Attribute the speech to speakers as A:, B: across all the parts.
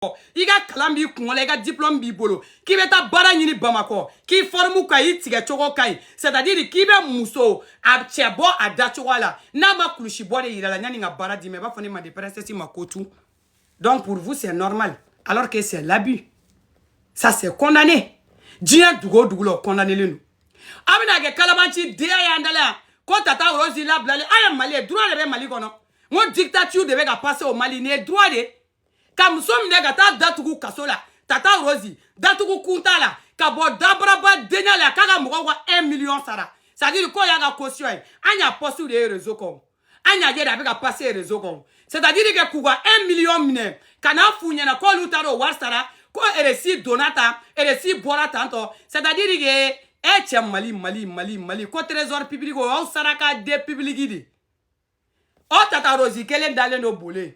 A: bamakɔ i ka kalan b'i kun la i ka diplôme b'i bolo k'i bɛ taa baara ɲini bamakɔ k'i fɔrimu ka i tigɛ cogo ka ɲi c'est à dire k'i bɛ muso a cɛ bɔ a da cogoya la n'a ma kulusi bɔ de yira la yanni ka baara d'i ma i b'a fɔ ne manden princesse ma ko tu donc pour vous c'est normal alors que c'est l'abus ça c'est condamné diɲɛ dugu o dugu la o condamnelen don a bɛna kɛ kalabanci denya y'an da la yan ko tata rose labilalen an ye mali ye droit de bɛ mali kɔnɔ n ko dictature de bɛ ka passer au mali nin ye droit de ye ka muso minɛ ka taa datugu kaso la tata rose datugu kun t'a la ka bɔ dabaraba denya la k'a ka mɔgɔw ka 1 miliyɔn sara c'est à dire k'o y'a ka caution ye an y'a poste de ye réseau kɔnɔ an y'a ye de a bɛ ka passer réseau kɔnɔ c'est à dire que k'u ka 1 miliyɔn minɛ ka n'a f'u ɲɛna k'olu taara o wari sara ko reçu donna tan reçu bɔra tan tɔ c'est à dire que e cɛ mali mali mali mali ko trésor public o y'aw saraka de public de o tata rose kelen dalen don bole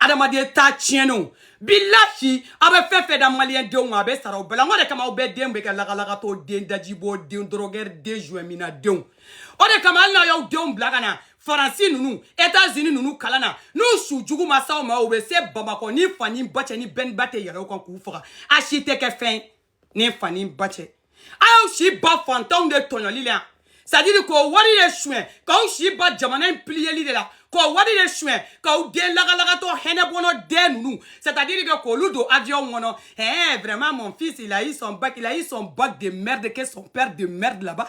A: adamaden taa tiɲɛnenw bilahi aw bɛ fɛn fɛn da maliyɛn denw ma a bɛ sara o bɛɛ la n ko de kama aw bɛɛ den bɛ kɛ lagalagatɔ den dajibɔ den dɔrɔgɛri den joint minna denw o de kama hali n'aw y'aw denw bila ka na faransi ninnu etazini ninnu kalan na n'u su jugu ma s'aw ma u bɛ se bamakɔ ni fa ni ba cɛ ni bɛni ba tɛ yɛlɛ u kan k'u faga a si tɛ kɛ fɛn ye ni fa ni ba cɛ aw y'aw si ban fantanw de tɔɲɔli la c'est à dire k'o wari de suɲɛ k'aw si ban jamana in piliyeli de la k'o wari de suɲɛ k'aw den lagalagatɔ hɛnɛbɔnɔ den ninnu c'est à dire que k'olu don avion kɔnɔ ɛɛ vraiment mon fils il a eu son bac il a eu son bac de merde que son père de merde là-bas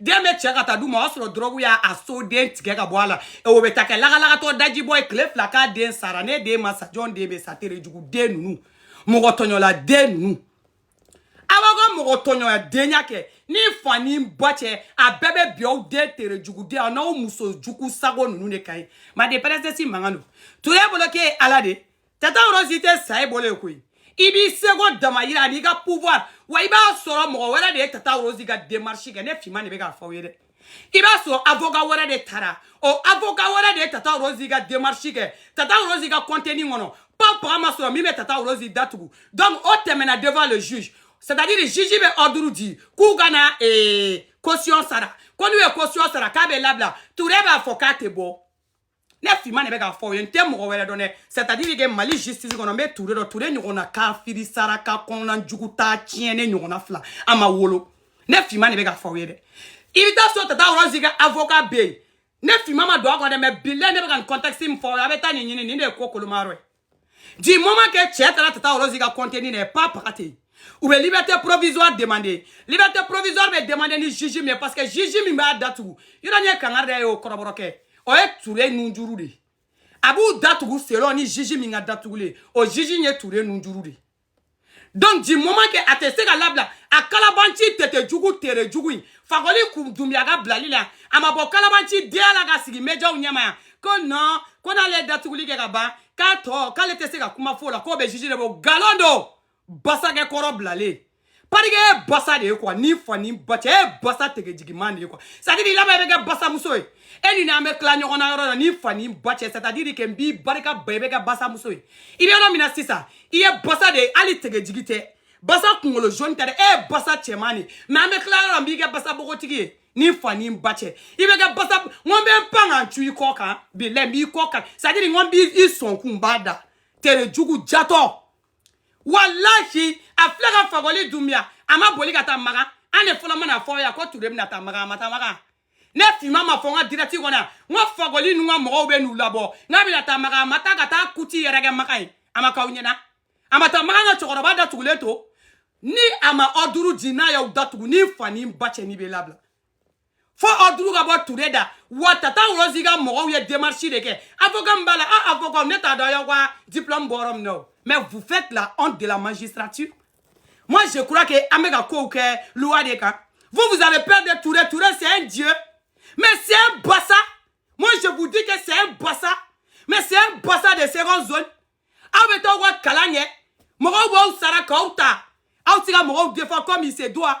A: den bɛ cɛ ka taa d'u ma o y'a sɔrɔ dɔrɔgu y'a a so den tigɛ ka bɔ a la o bɛ taa kɛ lagalagatɔ dajibɔ ye tile fila k'a den sara ne den ma sa jɔn den bɛ sa tere jugu den ninnu mɔgɔ tɔɲɔla den ninnu aw ka mɔgɔ tɔɲɔla denya kɛ ni fa ni ba cɛ a bɛɛ bɛ bin aw den tere juguden aw n'aw muso jugu sago ninnu de kan manden princesse mankan don ture bolo k'e ye ala de tata rose tɛ sa i bolo koyi i b'i seko dama yira n'i ka pouvoir wa i b'a sɔrɔ mɔgɔ wɛrɛ de ye tata rose ka démarche kɛ ne finman de bɛ k'a fɔ aw ye dɛ i b'a sɔrɔ avocat wɛrɛ de tara o avocat wɛrɛ de ye tata rose ka démarche kɛ tata rose ka contenu kɔnɔ pas paga ma sɔrɔ min bɛ tata rose datugu donc o tɛmɛna devant le juge c'est à dire juge bɛ ordre di k'u ka na ee, caution sara ko n'u ye caution sara k'a bɛ labila ture b'a fɔ k'a tɛ bɔ ne finman de bɛ k'a fɔ aw ye n tɛ mɔgɔ wɛrɛ dɔn dɛ c'est à dire que mali justice kɔnɔ n bɛ ture dɔn ture ɲɔgɔnna kafiri saraka kɔnɔna jugu ta tiɲɛ ne ɲɔgɔnna fila a ma wolo ne finman de bɛ k'a fɔ aw ye dɛ i bɛ t'a sɔrɔ tata rose ka avocat bɛ yen ne finman ma don a kɔnɔ dɛ mais bilahi ne bɛ ka contexte min fɔ a bɛ taa nin ɲini nin de ye ko kolomayɔrɔ ye du moment que cɛ taara tata rose ka contenu na pa paga ten u bɛ liberté provisoire demander liberté provisoire bɛ demander ni juge min ye parce que juge min b'a datugu yɔrɔ ɲɛ kangari da ye o kɔrɔbɔrɔkɛ o ye ture nunjuru de ye a b'u datugu selon ni juge min ka datugulen o juge ye ture nunjuru de ye donc du moment que a tɛ se ka labila a kalabanci tɛtɛ jugu tere jugu in fakoli kun dumbiya ka bilali la a ma bɔ kalabanci denya la ka sigi médiaw ɲɛma yan ko non ko n'ale ye datuguli kɛ ka ban k'a tɔ k'ale tɛ se ka kuma f'o la k'o bɛ juge de bolo nkalon don basakɛ kɔrɔ bilalen parquet ye basa de ye quoi ni fa ni ba cɛ ye basa tege jigiman de ye quoi c'est à dire i laban i bɛ kɛ basamuso ye e ni n'an bɛ tila ɲɔgɔn na yɔrɔ la ni fa ni ba cɛ c'est à dire que n b'i barika ban i bɛ kɛ basamuso ye i bɛ yɔrɔ min na sisan i ye basa de ye hali tege jigi tɛ basa kunkolo jaune tɛ dɛ e ye basa cɛman de ye mais an bɛ tila yɔrɔ la n b'i kɛ basa bogotigi ye ni fa ni ba cɛ i bɛ kɛ basa n ko n bɛ n pan ka n cu i kɔ kan bilayi n b'i kɔ kan c'est à dire n ko n b'i sɔnkun n b'a da tere jugu jatɔ walahi a filɛ ka fakɔli dunbiya a ma boli ka taa maka an de fɔlɔ mana fɔ yan ko ture bɛna taa maka a ma taa maka ne finman m'a fɔ n ka direct kɔnɔ yan n ko fakɔli ninnu ka mɔgɔw bɛ n'u labɔ k'a bɛna taa maka a ma taa ka taa kuti yɛrɛ kɛ maka ye a ma k'aw ɲɛna a ma taa maka ka cɛkɔrɔba datugulen to ni a ma ordre di n'a y'aw datugu ni fa ni ba cɛ n'i bɛ labila fo ordre ka bɔ ture da wa tata rose ka mɔgɔw ye démarche de kɛ avocat min b'a la a avocat ne t'a dɔn y'aw ka diplôme bɔ yɔrɔ min na o mais vous faites la honte de la magistrature moi je crois que an bɛ ka kow kɛ loi de kan vous vous avez peur de ture ture c'est un dieu mais c'est un basa moi je vous dis que c'est un basa mais c'est un basa de seconde zone aw bɛ taa aw ka kalan kɛ mɔgɔw b'aw sara k'aw ta aw tɛ ka mɔgɔw défend comme il se doit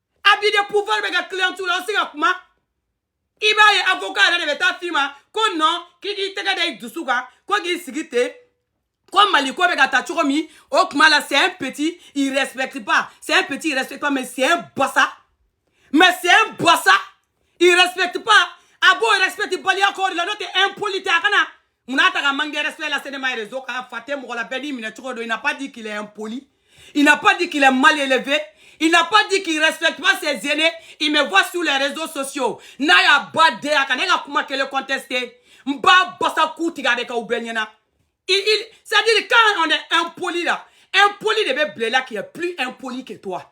A: abus de pouvoir bɛ kɛ client la aw se ka kuma i b'a ye avocat yɛrɛ de bɛ taa f'i ma ko non k'i k'i tɛgɛ da i dusu kan ko k'i sigi ten ko mali ko bɛ ka taa cogo min o tuma la c'est un petit il respecte pas c'est un petit il respecte pas mais c'est un basa mais c'est un basa il respecte pas a b'o respecte baliya k'aw de la n'o tɛ impoli tɛ a kana mun na a tɛ ka manque de respect lase ne ma réseau kan fa tɛ mɔgɔ la bɛɛ n'i minɛ cogo don il n'a pas dit qu'il est impoli il n'a pas dit qu'il est mal élevé il n'a pas dit qu'il respecte pas ses aînés il me voit sur les réseaux sociaux n'a y'a ba den a ka ne ka kuma kelen contester n b'a basa ku tigɛ a bɛ kɛ u bɛɛ ɲɛna il il c'est à dire quand on est impoli là impoli de bɛ bila i la qui est plus impoli que toi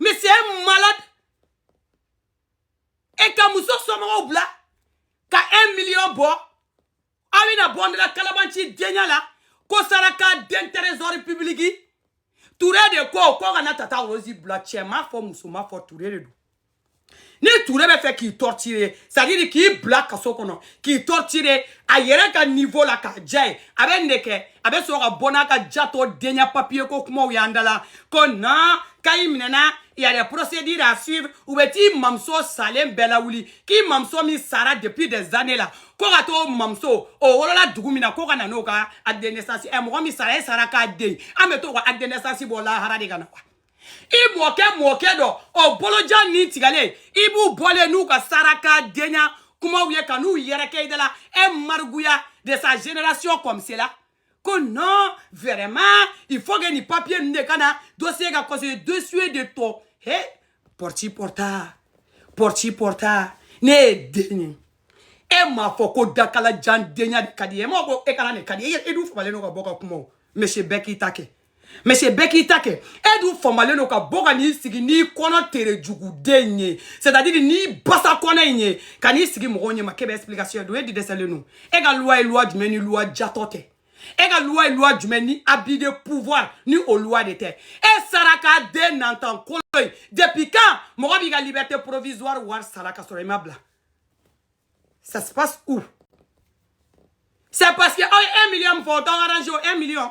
A: mais c'est un malade e ka muso somɔgɔw bila ka 1 million bɔ aw bɛna bɔ ne la kalabanci denya la k'o sara ka don trésor public ture de ko k'u kana tata rose bila cɛ m'a fɔ muso m'a fɔ ture de don ni ture b'a fɛ k'i torturer c'est à dire k'i bila kaso kɔnɔ k'i torturer a yɛrɛ ka niveau la k'a ja ye a bɛ nin de kɛ a bɛ sɔrɔ ka bɔ n'a ka jatɔ denya papier ko kumaw y'an da la ko na kayi minɛna y a des procédures à suivre u bɛ t'i mamuso salen bɛɛ lawuli k'i mamuso min sara depuis des années la ko ka t'o mamuso o wolola dugu min na ko ka na n'o ka acte de naissance ɛ mɔgɔ min sara e saraka den an bɛ t'o ka acte de naissance bɔ lahara de ka na wa i mɔkɛ mɔkɛ dɔ o bolo jan nin tigɛlen i b'u bɔlen n'u ka saraka denya kumaw ye ka n'u yɛrɛkɛ i da la e mariguya de sa génération comme cela ko non vraiment il faut que nin papier ninnu de ka na dossier ka kɔsɔn dossier de tɔ he porti porta porti porta ne ye den ye e m'a fɔ ko dakala jan denya de ka di ye e m'a ko e kana nin ka di ye e dun famalen don ka bɔ ka kuma o monsieur bɛɛ k'i ta kɛ monsieur bɛɛ k'i ta kɛ e dun famalen don ka bɔ ka n'i sigi n'i kɔnɔ tere juguden ye c'est à dire n'i basa kɔnɔ in ye ka n'i sigi mɔgɔw ɲɛma k'e bɛ explication don e di dɛsɛlen don e ka loi ye loi jumɛn ni loi jatɔ tɛ e ka loi ye loi jumɛn ni abus de pouvoir ni o loi de tɛ e saraka den nantan kolo ye depuis quand mɔgɔ b'i ka liberté provisoire wari sara ka sɔrɔ i ma bila ça se passe où c'est parce que aw ye 1 million min fɔ o t'aw arrange o 1 million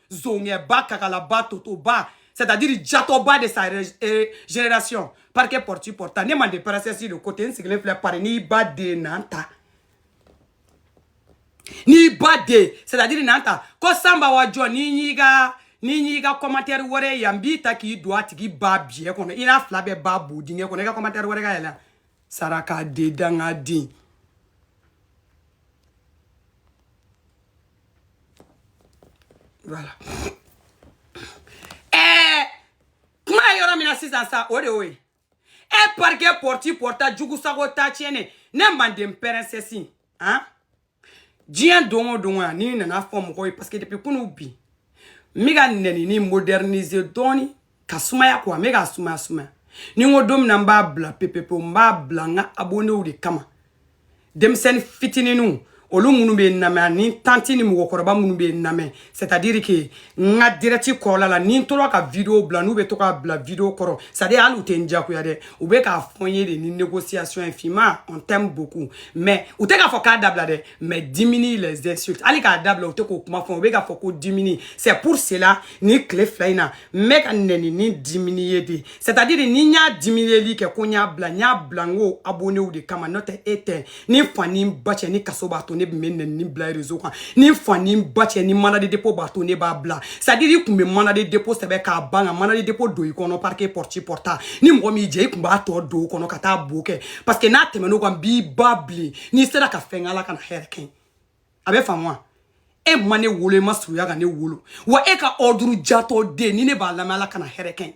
A: zongɛba kakalaba totoba c'est à dire jatɔba de sa euh, génération parce que porti porta ne manden princesse de côté n sigilen filɛ Paris n'i ba den nantan n'i ba den c'est à dire nantan ko sanba wa jɔ n'i y'i ka n'i y'i ka commentaire wɛrɛ yan n b'i ta k'i don a tigi ba biyɛ kɔnɔ i n'a fila bɛɛ ba bo dingɛ kɔnɔ i ka commentaire wɛrɛ ka yɛlɛ saraka den danga den voilà ɛɛ eh, kuma ye yɔrɔ min na sisan sa o de y'o ye e parce que porti porta jugu sago t'a tiɲɛ ne ne manden princesse han diɲɛ don o don a n'i nana fɔ mɔgɔw ye parce que depuis kunu bi n bɛ ka nɛnini moderniser dɔɔni ka sumaya ko an bɛ k'a sumaya sumaya ni n ko don min na n b'a bila pepepewu n b'a bila n ka abonnéw de kama denmisɛnnin fitininw olu minnu bɛ n lamɛn ani tanti ni mɔgɔkɔrɔba minnu bɛ n lamɛn c'est à dire que n ka direct kɔrɔla la ni n tora ka vidéo bila n'u bɛ to k'a bila vidéo kɔrɔ c'est à dire hali u tɛ n diyagoya dɛ u bɛ k'a fɔ n ye de ni négociation ye finman on t'aime beaucoup mais u tɛ k'a fɔ k'a dabila dɛ mais diminue les insultes hali k'a dabila u tɛ k'o kuma fɔ u bɛ k'a fɔ ko diminue c'est pour cela ni tile fila in na n bɛ ka nɛnini diminuer de c'est à dire ni n y'a diminiyeli kɛ ko n y'a bila n y'a bila n ka abonnéw de kama n'o tɛ e tɛ ni fa ni ba cɛ ni kaso b'a to ne tun bɛ nɛnini bila réseau kan ni fa ni ba cɛ ni mandat de dépôt b'a to ne b'a bila c'est à dire i tun bɛ mandat de dépôt sɛbɛn k'a ban ka mandat de dépôt don i kɔnɔ parquet pɔrɔti pɔrɔta ni mɔgɔ min jɛ i tun b'a tɔ don o kɔnɔ ka taa bo kɛ parce que n'a tɛmɛn'o kan n b'i ba bilen n'i sera ka fɛn kɛ ala kana hɛrɛ kɛ n ye a bɛ faamu wa e ma ne wolo e ma surunya ka ne wolo wa e ka ordre jatɔ den ni ne b'a lamɛn ala kana hɛrɛ kɛ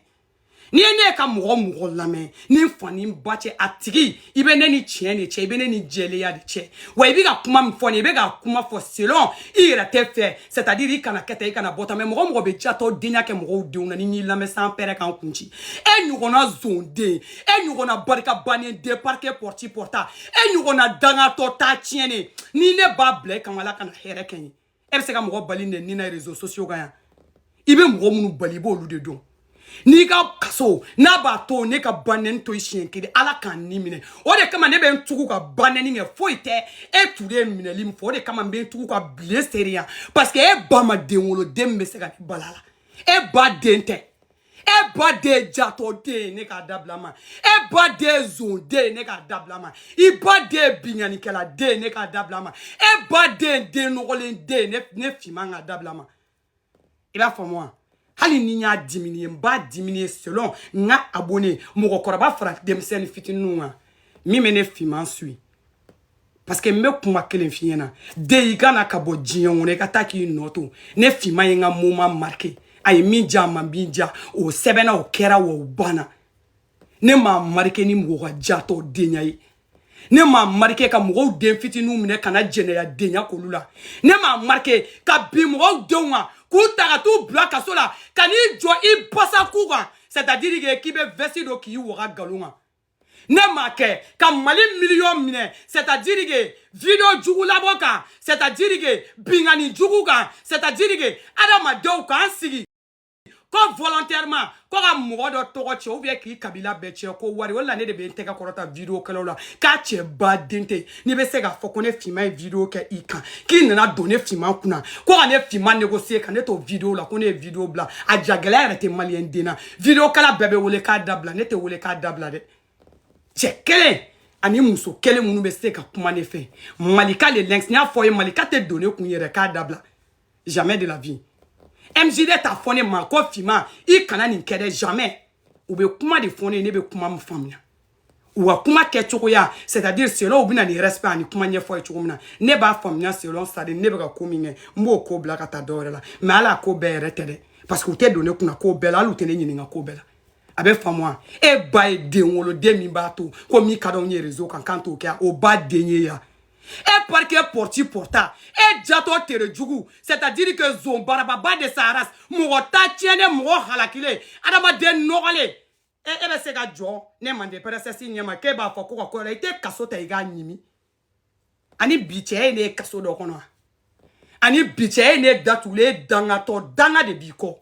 A: n ye ne ka mɔgɔ mɔgɔ lamɛn ni n fa ni n ba cɛ a tigi i bɛ ne ni tiɲɛ de cɛ i bɛ ne ni jɛlenya de cɛ wa i bɛ ka kuma min fɔ nin i bɛ ka kuma fɔ selon i yɛrɛ tɛ fɛ c'est à dire i kana kɛ tan i kana bɔ tan mais mɔgɔ mɔgɔ bɛ jatɔ denya kɛ mɔgɔw denw na ni n'i lamɛn sanpɛrɛn ka n kun ci e ɲɔgɔnna zonden e ɲɔgɔnna barika bannen den parquet pɔrɔti pɔrɔta e ɲɔgɔnna dangatɔ ta tiɲɛnen ni ne b'a bila e kama ala kana hɛrɛ kɛ n ye e bɛ se ka mɔgɔ bali nɛni na réseaux sociaux kan yan i bɛ mɔgɔ minnu bali i b'olu de dɔn n'i ka kaso n'a b'a to ne ka banɛni to i siɲɛ kelen ala ka n ni minɛ o de kama ne bɛ n tugu ka banɛni kɛ foyi tɛ e tun ye minɛli min fɔ o de kama n bɛ n tugu ka bilen seereya parce que e ba ma den wolo den min bɛ se ka ne bal'a la e ba den tɛ e ba den jatɔden ne k'a dabila ma e ba den zonden ne k'a dabila ma i ba den binkannikɛladen ne k'a dabila ma e ba den den nɔgɔlen den ne finman k'a dabila ma i b'a faamu wa hali ni n y'a diminuer n b'a diminuer selon n ka abonné mɔgɔkɔrɔba fara denmisɛnnin fitininw kan min bɛ ne finman suit parce que n bɛ kuma kelen f'i ɲɛna dɛ i kana ka bɔ diɲɛ kɔnɔ i ka taa k'i nɔ to ne finma ye n ka moment marqué a ye min diya a ma min diya o sɛbɛnna o kɛra wa o banna ne m'a marqué ni mɔgɔ ka jatɔ denya ye ne m'a marqué ka mɔgɔw den fitininw minɛ ka na jɛnɛya denya k'olu la ne m'a marqué ka bin mɔgɔw denw kan k'u ta ka t'u bila kaso la ka n'i jɔ i basa k'u kan c'est à dire que k'i bɛ veste don k'i waga galon kan ne m'a kɛ ka mali miliyɔn minɛ c'est à dire que video jugu labɔ kan c'est à dire que binkanni jugu kan c'est à dire que adamadenw k'an sigi ko volontairement ko ka mɔgɔ dɔ tɔgɔ cɛn ou bien k'i kabila bɛɛ cɛn ko wari o la ne de bɛ n tɛgɛ kɔrɔta video kɛlaw la k'a cɛ ba den tɛ n'i bɛ se k'a fɔ ko ne finman ye video kɛ i kan k'i nana don ne finman kunna ko ka ne finman négocier ka ne to video la ko ne ye video bila a ja gɛlɛya yɛrɛ tɛ maliyɛn den na vidéokɛla bɛɛ bɛ wele k'a dabila ne tɛ wele k'a dabila dɛ cɛ kelen ani muso kelen minnu bɛ se ka kuma ne fɛ malika le lynx n y'a fɔ ye malika tɛ don ne kun yɛrɛ k'a dabila jamais de la vie mjd t'a fɔ ne ma ko finma i kana nin kɛ dɛ jamais u bɛ kuma de fɔ ne ye ne bɛ kuma min faamuya u ka kuma kɛ cogoya c'est à dire selon u bɛna ni respect ani kuma ɲɛfɔ ye cogo min na ne b'a faamuya selon c'est à dire ne bɛ ka ko min kɛ n b'o ko bila ka taa dɔwɛrɛ la mais hali a ko bɛɛ yɛrɛ tɛ dɛ parce que u tɛ don ne kunna ko bɛɛ la hali u tɛ ne ɲininka ko bɛɛ la a bɛ faamu wa e ba ye den wolo den min b'a to ko min ka d'anw ye réseau kan k'an t'o kɛ o ba den ye yan e parquet porti porta e jatɔ tere jugu c'est à dire que zon barababa de sa race mɔgɔ ta tiɲɛnen mɔgɔ halakilen adamaden nɔgɔlen e e bɛ se ka jɔ ne mande princesse ɲɛma k'e b'a fɔ ko ka ko la i tɛ kaso ta i k'a ɲimi ani bi cɛ ye ne ye kaso dɔ kɔnɔ ani bi cɛ ye ne datugulen dangatɔ danga de b'i kɔ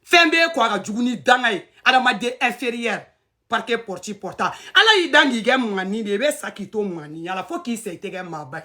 A: fɛn b'e kɔ a ka jugu ni danga ye adamaden inférieur parquet porti porta ala y'i dan k'i kɛ maani de i bɛ sa k'i to maaniya la fo k'i sa i tɛ kɛ maaba ye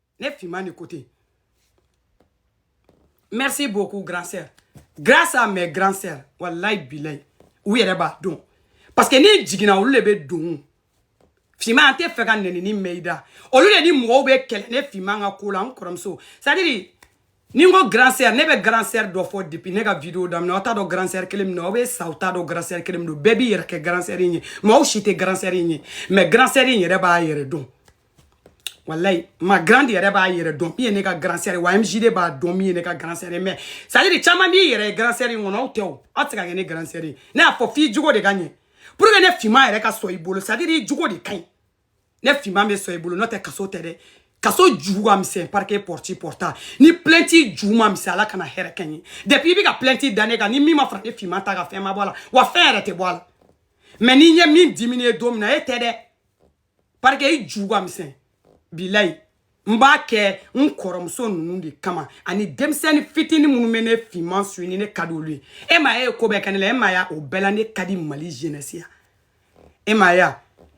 A: ne finman de ko ten merci beaucoup grand sœur grâce à mes grand sœur wallahi bilayi u yɛrɛ b'a dɔn parce que n'i jiginna olu de bɛ don finman an t'a fɛ ka nɛnini mɛn i da olu de ni mɔgɔw bɛ kɛlɛ ne finman ka ko la n kɔrɔmuso c'est à dire ni n ko grand sœur ne bɛ grand sœur dɔ fɔ depuis ne ka video daminɛ aw t'a dɔn grand sœur kelen min don aw bɛ sa aw t'a dɔn grand sœur kelen min don bɛɛ b'i yɛrɛ kɛ grand sœur in ye mɔgɔw si tɛ grand sœur in ye mais grand sœur in yɛrɛ b'a yɛrɛ dɔn walayi ma grande yɛrɛ b'a yɛrɛ dɔn min ye ne ka grand sœur wa MJD b'a dɔn min ye ne ka grand sœur ye mais c'est à dire caman b'i yɛrɛ ye grand sœur in kɔnɔ aw tɛ o aw tɛ se ka kɛ ne grand sœur ye ne y'a fɔ f'i jogo de ka ɲɛ pour que ne finman yɛrɛ ka sɔn i bolo c'est à dire i jogo de ka ɲi ne finman bɛ sɔn i bolo n'o tɛ kaso tɛ dɛ kaso ju ka misɛn parquet porti porta ni plainte ju ma misɛn ala kana hɛrɛ kɛ n ye depuis i bɛ ka plainte da ne kan ni min ma fara ne finman ta ka fɛn ma bɔ a la wa fɛn yɛrɛ tɛ bɔ a la mais ni n ye min dimine don min na e tɛ dɛ parquet i ju ka misɛn bilayi n b'a kɛ n kɔrɔmuso ninnu de kama ani denmisɛnni fitini minnu bɛ ne finman suivre ni ne ka di olu ye e ma ye ko bɛɛ kɛ ne la e ma ye o bɛɛ la ne ka di mali jeunesse ye e ma ye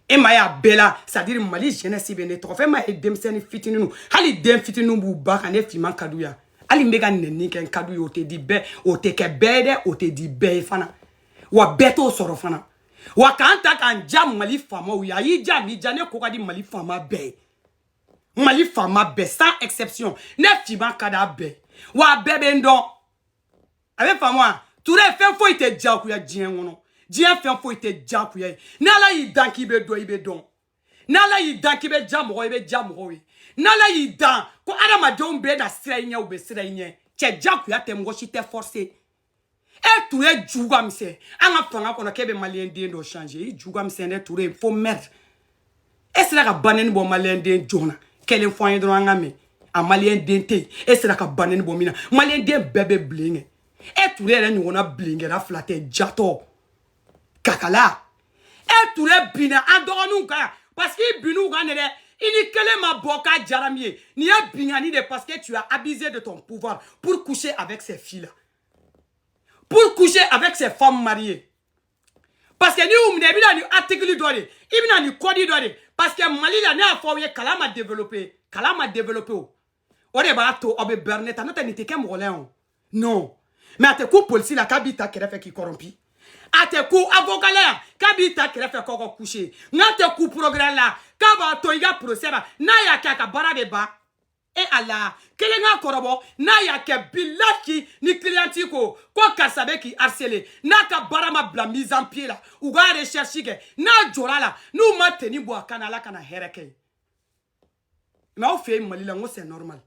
A: e ma y'a bɛɛ la c'est à dire mali jeunesse bɛ ne tɔgɔ fɛ e ma ye denmisɛnni fitiniw hali den fitiniw b'u ba kan ne finman ka di u ye hali n bɛ ka nɛni kɛ n ka di u ye o tɛ di bɛɛ o tɛ kɛ bɛɛ ye dɛ o tɛ di bɛɛ ye fana wa bɛɛ t'o sɔrɔ fana wa k'an ta k'an ja mali faamaw ye a y'i ja m'i ja ne ko ka di mali faama bɛɛ ye mali faama bɛɛ sans exception ne finman ka d'a bɛɛ wa a bɛɛ bɛ n dɔn a bɛ faamu wa touré fɛn foyi tɛ jagoya diɲɛ kɔnɔ diɲɛ fɛn foyi tɛ jagoya ye n'ala y'i dan k'i bɛ dɔn i bɛ dɔn n'ala y'i dan k'i bɛ ja mɔgɔ i bɛ ja mɔgɔw ye n'ala y'i dan ko adamadenw bɛna siran i ɲɛ u bɛ siran i ɲɛ cɛ jagoya tɛ mɔgɔ si tɛ forcer e touré ju ka misɛn an ka fanga kɔnɔ k'e bɛ maliyɛn den dɔ changer i ju ka misɛn dɛ touré fo mɛri e sera ka banɛni bɔ maliyɛn den jɔn na kelen fɔ an ye dɔrɔn an k'a mɛn a maliyɛn den tɛ yen e sera ka banɛni bɔ min na maliyɛn den bɛɛ bɛ banɛni kɛ e touré yɛrɛ ɲɔgɔnna banɛnikɛla fila tɛ jatɔ kakala e ture binna an dɔgɔninw kan yan parce que i bin'u kan de dɛ i ni kelen ma bɔ k'a diyara min ye nin ye binkanni de parce que tu as abusé de ton pouvoir pour coucher avec ces filles là pour coucher avec ces femmes mariées parce que n'i y'u minɛ i bɛna ni article dɔ de i bɛna ni code dɔ de parce que mali la ne y'a fɔ aw ye kalan ma développé kalan ma développé o o de b'a to aw bɛ berner tan n'o tɛ nin tɛ kɛ mɔgɔ la yan o non mais a tɛ kun polisi la k'a b'i ta kɛrɛfɛ k'i corrompu a tɛ kun avocat la yan k'a b'i ta kɛrɛfɛ k'aw ka coucher n'a tɛ kun procureur la k'a b'a to i ka procès ma n'a y'a kɛ a ka baara bɛ ban e ala kelen ka kɔrɔbɔ n'a y'a kɛ bilahi ni cliente ko ko karisa bɛ k'i harceler n'a ka baara ma bila mise en pied la u ka recherche kɛ n'a jɔra la n'u ma tenue bɔ a kan na ala kana hɛrɛ kɛ n ye mais aw fɛ yen mali la n ko c'est normal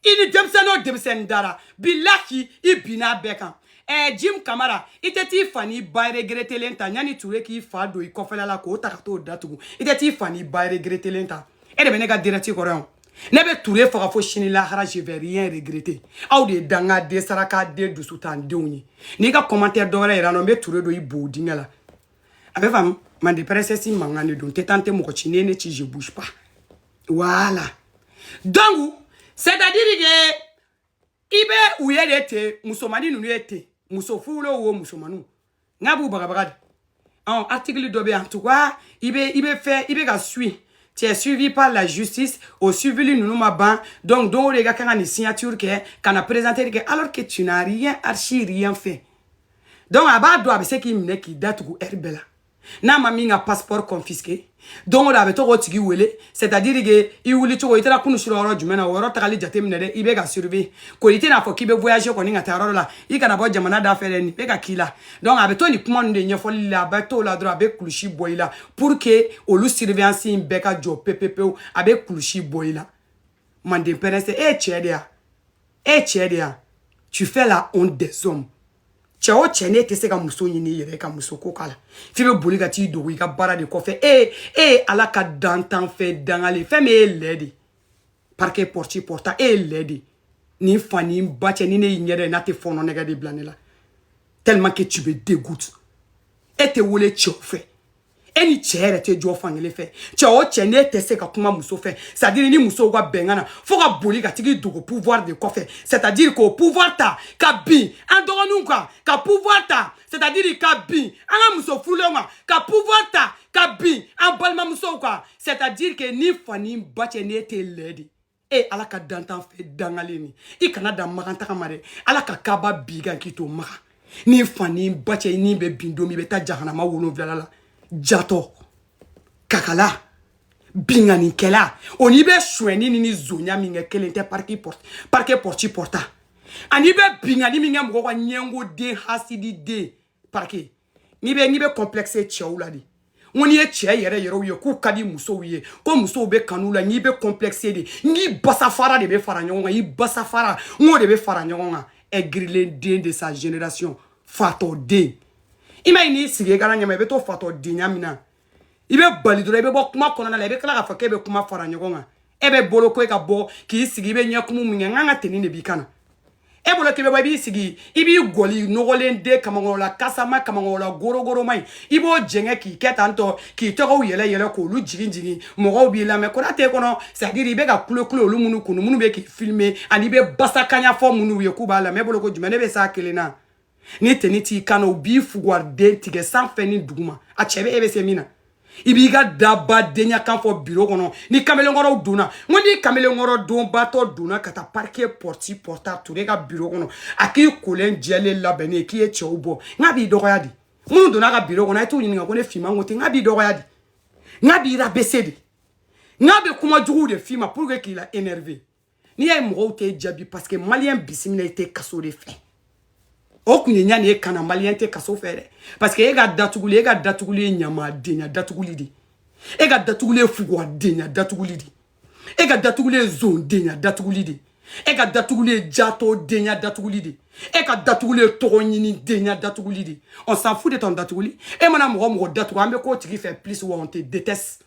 A: i ni denmisɛnnin o denmisɛnnin dara bilahi i binna bɛɛ kan ɛɛ jim kamara i tɛ t'i fa n'i ba regretelen ta yanni ture k'i fa don i kɔfɛla la k'o ta ka t'o datugu i tɛ t'i fa n'i ba regretelen ta e de bɛ ne ka direct kɔrɔ yan ne bɛ ture faga fo sini lahara je vais rien regretter aw de ye danga den saraka den dusuntan denw ye n'i ka commentaire dɔ wɛrɛ yira n na n bɛ ture don i bo dingɛ la a bɛ faamu mande princesse mankan de don tɛ tan tɛ mɔgɔ ci ne ne ci je bouge pas voilà donc c'est à dire que i bɛ u ye de ten musomanin ninnu ye ten muso furulenw wo musomaninw n'a b'u bagabaga de ɔn article dɔ bɛ yen en tout cas i bɛ i bɛ fɛ i bɛ ka suivre tu es suivi par la justice o suivili ninnu ma ban donc don o don i ka kan ka nin signature kɛ ka na présenter kɛ alors que tu n'as rien archi rien fait donc a b'a dɔn a bɛ se k'i minɛ k'i datugu heure bɛɛ la n'a ma min ka passeport confisqué don o don a bɛ to k'o tigi wele c'est à dire que i wuli cogo i taara kunu sira yɔrɔ jumɛn na o yɔrɔ tagali jate minɛ dɛ i bɛ ka surveiller ko i tɛna fɔ k'i bɛ voyager kɔni ka taa yɔrɔ la i kana bɔ jamana da fɛ dɛ nin bɛ ka k'i la donc a bɛ to nin kuma ninnu de ɲɛfɔli la a bɛ t'o la dɔrɔn a bɛ kulusi bɔ i la pour que olu surveillance in bɛɛ ka jɔ pepepewu a bɛ kulusi bɔ i la manden princesse e ye cɛ de ya e cɛ de ya tu fais la honte des hommes cɛ o cɛ n'e tɛ se ka muso ɲini i yɛrɛ ka muso ko k'a la f'i bɛ boli ka t'i dogo i ka baara de kɔfɛ e e ye ala ka dantanfɛn dangalen fɛn min e ye lɛ de parike pɔrɔti pɔrɔta e ye lɛ de nin fa ni ba cɛ ni ne y'i ɲɛ dɛ n'a tɛ fɔɔnɔ nege de bila ne la tellement que tu me dégoûtes e tɛ wele cɛw fɛ e ni cɛ yɛrɛ tɛ jɔ fankelen fɛ cɛ o cɛ n'e tɛ se ka kuma muso fɛ c'est à dire ni musow ka bɛn kan na fo ka boli ka tag'i dogo pouvoir de kɔfɛ c'est à dire k'o pouvoir ta ka bin an dɔgɔninw kan ka pouvoir ta c'est à dire ka bin an ka muso furulenw kan ka pouvoir ta ka bin an balimamusow kan c'est à dire que ni fa ni ba cɛ n'e tɛ lɛ de e ye ala ka dantan fɛ dangalen ni i kana dan magan taga ma dɛ ala ka kaba bin i kan k'i to maga n'i fa n'i ba cɛ n'i bɛ bin don min i bɛ taa jahanama wolonwulala la jatɔ kakala binkanikɛla o n'i bɛ suɲɛni ni ni zonya min kɛ kelen tɛ pariki pɔrte parike pɔrti pɔrta ani i bɛ binkani min kɛ mɔgɔ kan ɲɛngo den hasidi den parike n'i bɛ n'i bɛ complexe cɛw la de n ko n'i ye cɛ yɛrɛ yɛrɛw ye k'u ka di musow ye ko musow bɛ kanu la n'i bɛ complexe de n'i basafara de bɛ fara ɲɔgɔn kan i basafara n k'o de bɛ fara ɲɔgɔn kan aigrilen den de sa génération fatɔ den i m'a ye n'i sigi garan ɲɛma i bɛ to fatɔ denya min na i bɛ bali dɔrɔn i bɛ bɔ kuma kɔnɔna la i bɛ tila k'a fɔ k'e bɛ kuma fara ɲɔgɔn kan e bɛ bolo ko e ka bɔ k'i sigi i bɛ ɲɛkumu min kɛ n k'an ka teni de b'i kan na e bolo k'i bɛ bɔ i b'i sigi i b'i gɔli nɔgɔlen den kamankɔrɔla kasama kamankɔrɔla gorogoroma in i b'o jɛngɛ k'i kɛ tan tɔ k'i togow yɛlɛ yɛlɛ k'olu jigin jigin mɔgɔw b'i lamɛn kona t'e kɔnɔ c'est à dire i bɛ ka kule kule olu minnu kun minnu bɛ k'i filmer ani i bɛ basakanya fɔ minnu ye k'u b'a lamɛn e bolo ko jumɛn ne bɛ s'a kelen na ni teni t'i kan na u b'i fuguwariden tigɛ sanfɛ ni duguma a cɛ bɛ e bɛ se min na i b'i ka daba denya kan fɔ biro kɔnɔ ni kamalenkɔrɔw donna n ko ni kamalenkɔrɔ donbatɔ donna ka taa parike pɔrɔti pɔrɔta ture ka biro kɔnɔ a k'i kolen jɛlen labɛnnen ye k'i ye cɛw bɔ n k'a b'i dɔgɔya de minnu donna a ka biro kɔnɔ a ye t'u ɲininka ko ne finman ko ten n k'a b'i dɔgɔya de n k'a b'i rabaisser de n k'a bɛ kuma juguw de f'i ma pour que k'i la énerver n'i y'a ye mɔgɔw t'i jaabi paseke maliyɛn bisimila i tɛ kaso de fɛ o kun ye ɲani ye kana maliyɛn tɛ kaso fɛ dɛ paseke e ka datuguli e ka datuguli ye ɲamadenya datuguli de e ka datuguli ye fuguwadenya datuguli de e ka datuguli ye zondenya datuguli de e ka datuguli ye jatɔdenya datuguli de e ka datuguli ye tɔgɔ ɲini denya datuguli de on s'en fout de ton datuguli e mana mɔgɔ mɔgɔ datugu an bɛ k'o tigi fɛ plus wa on te déteste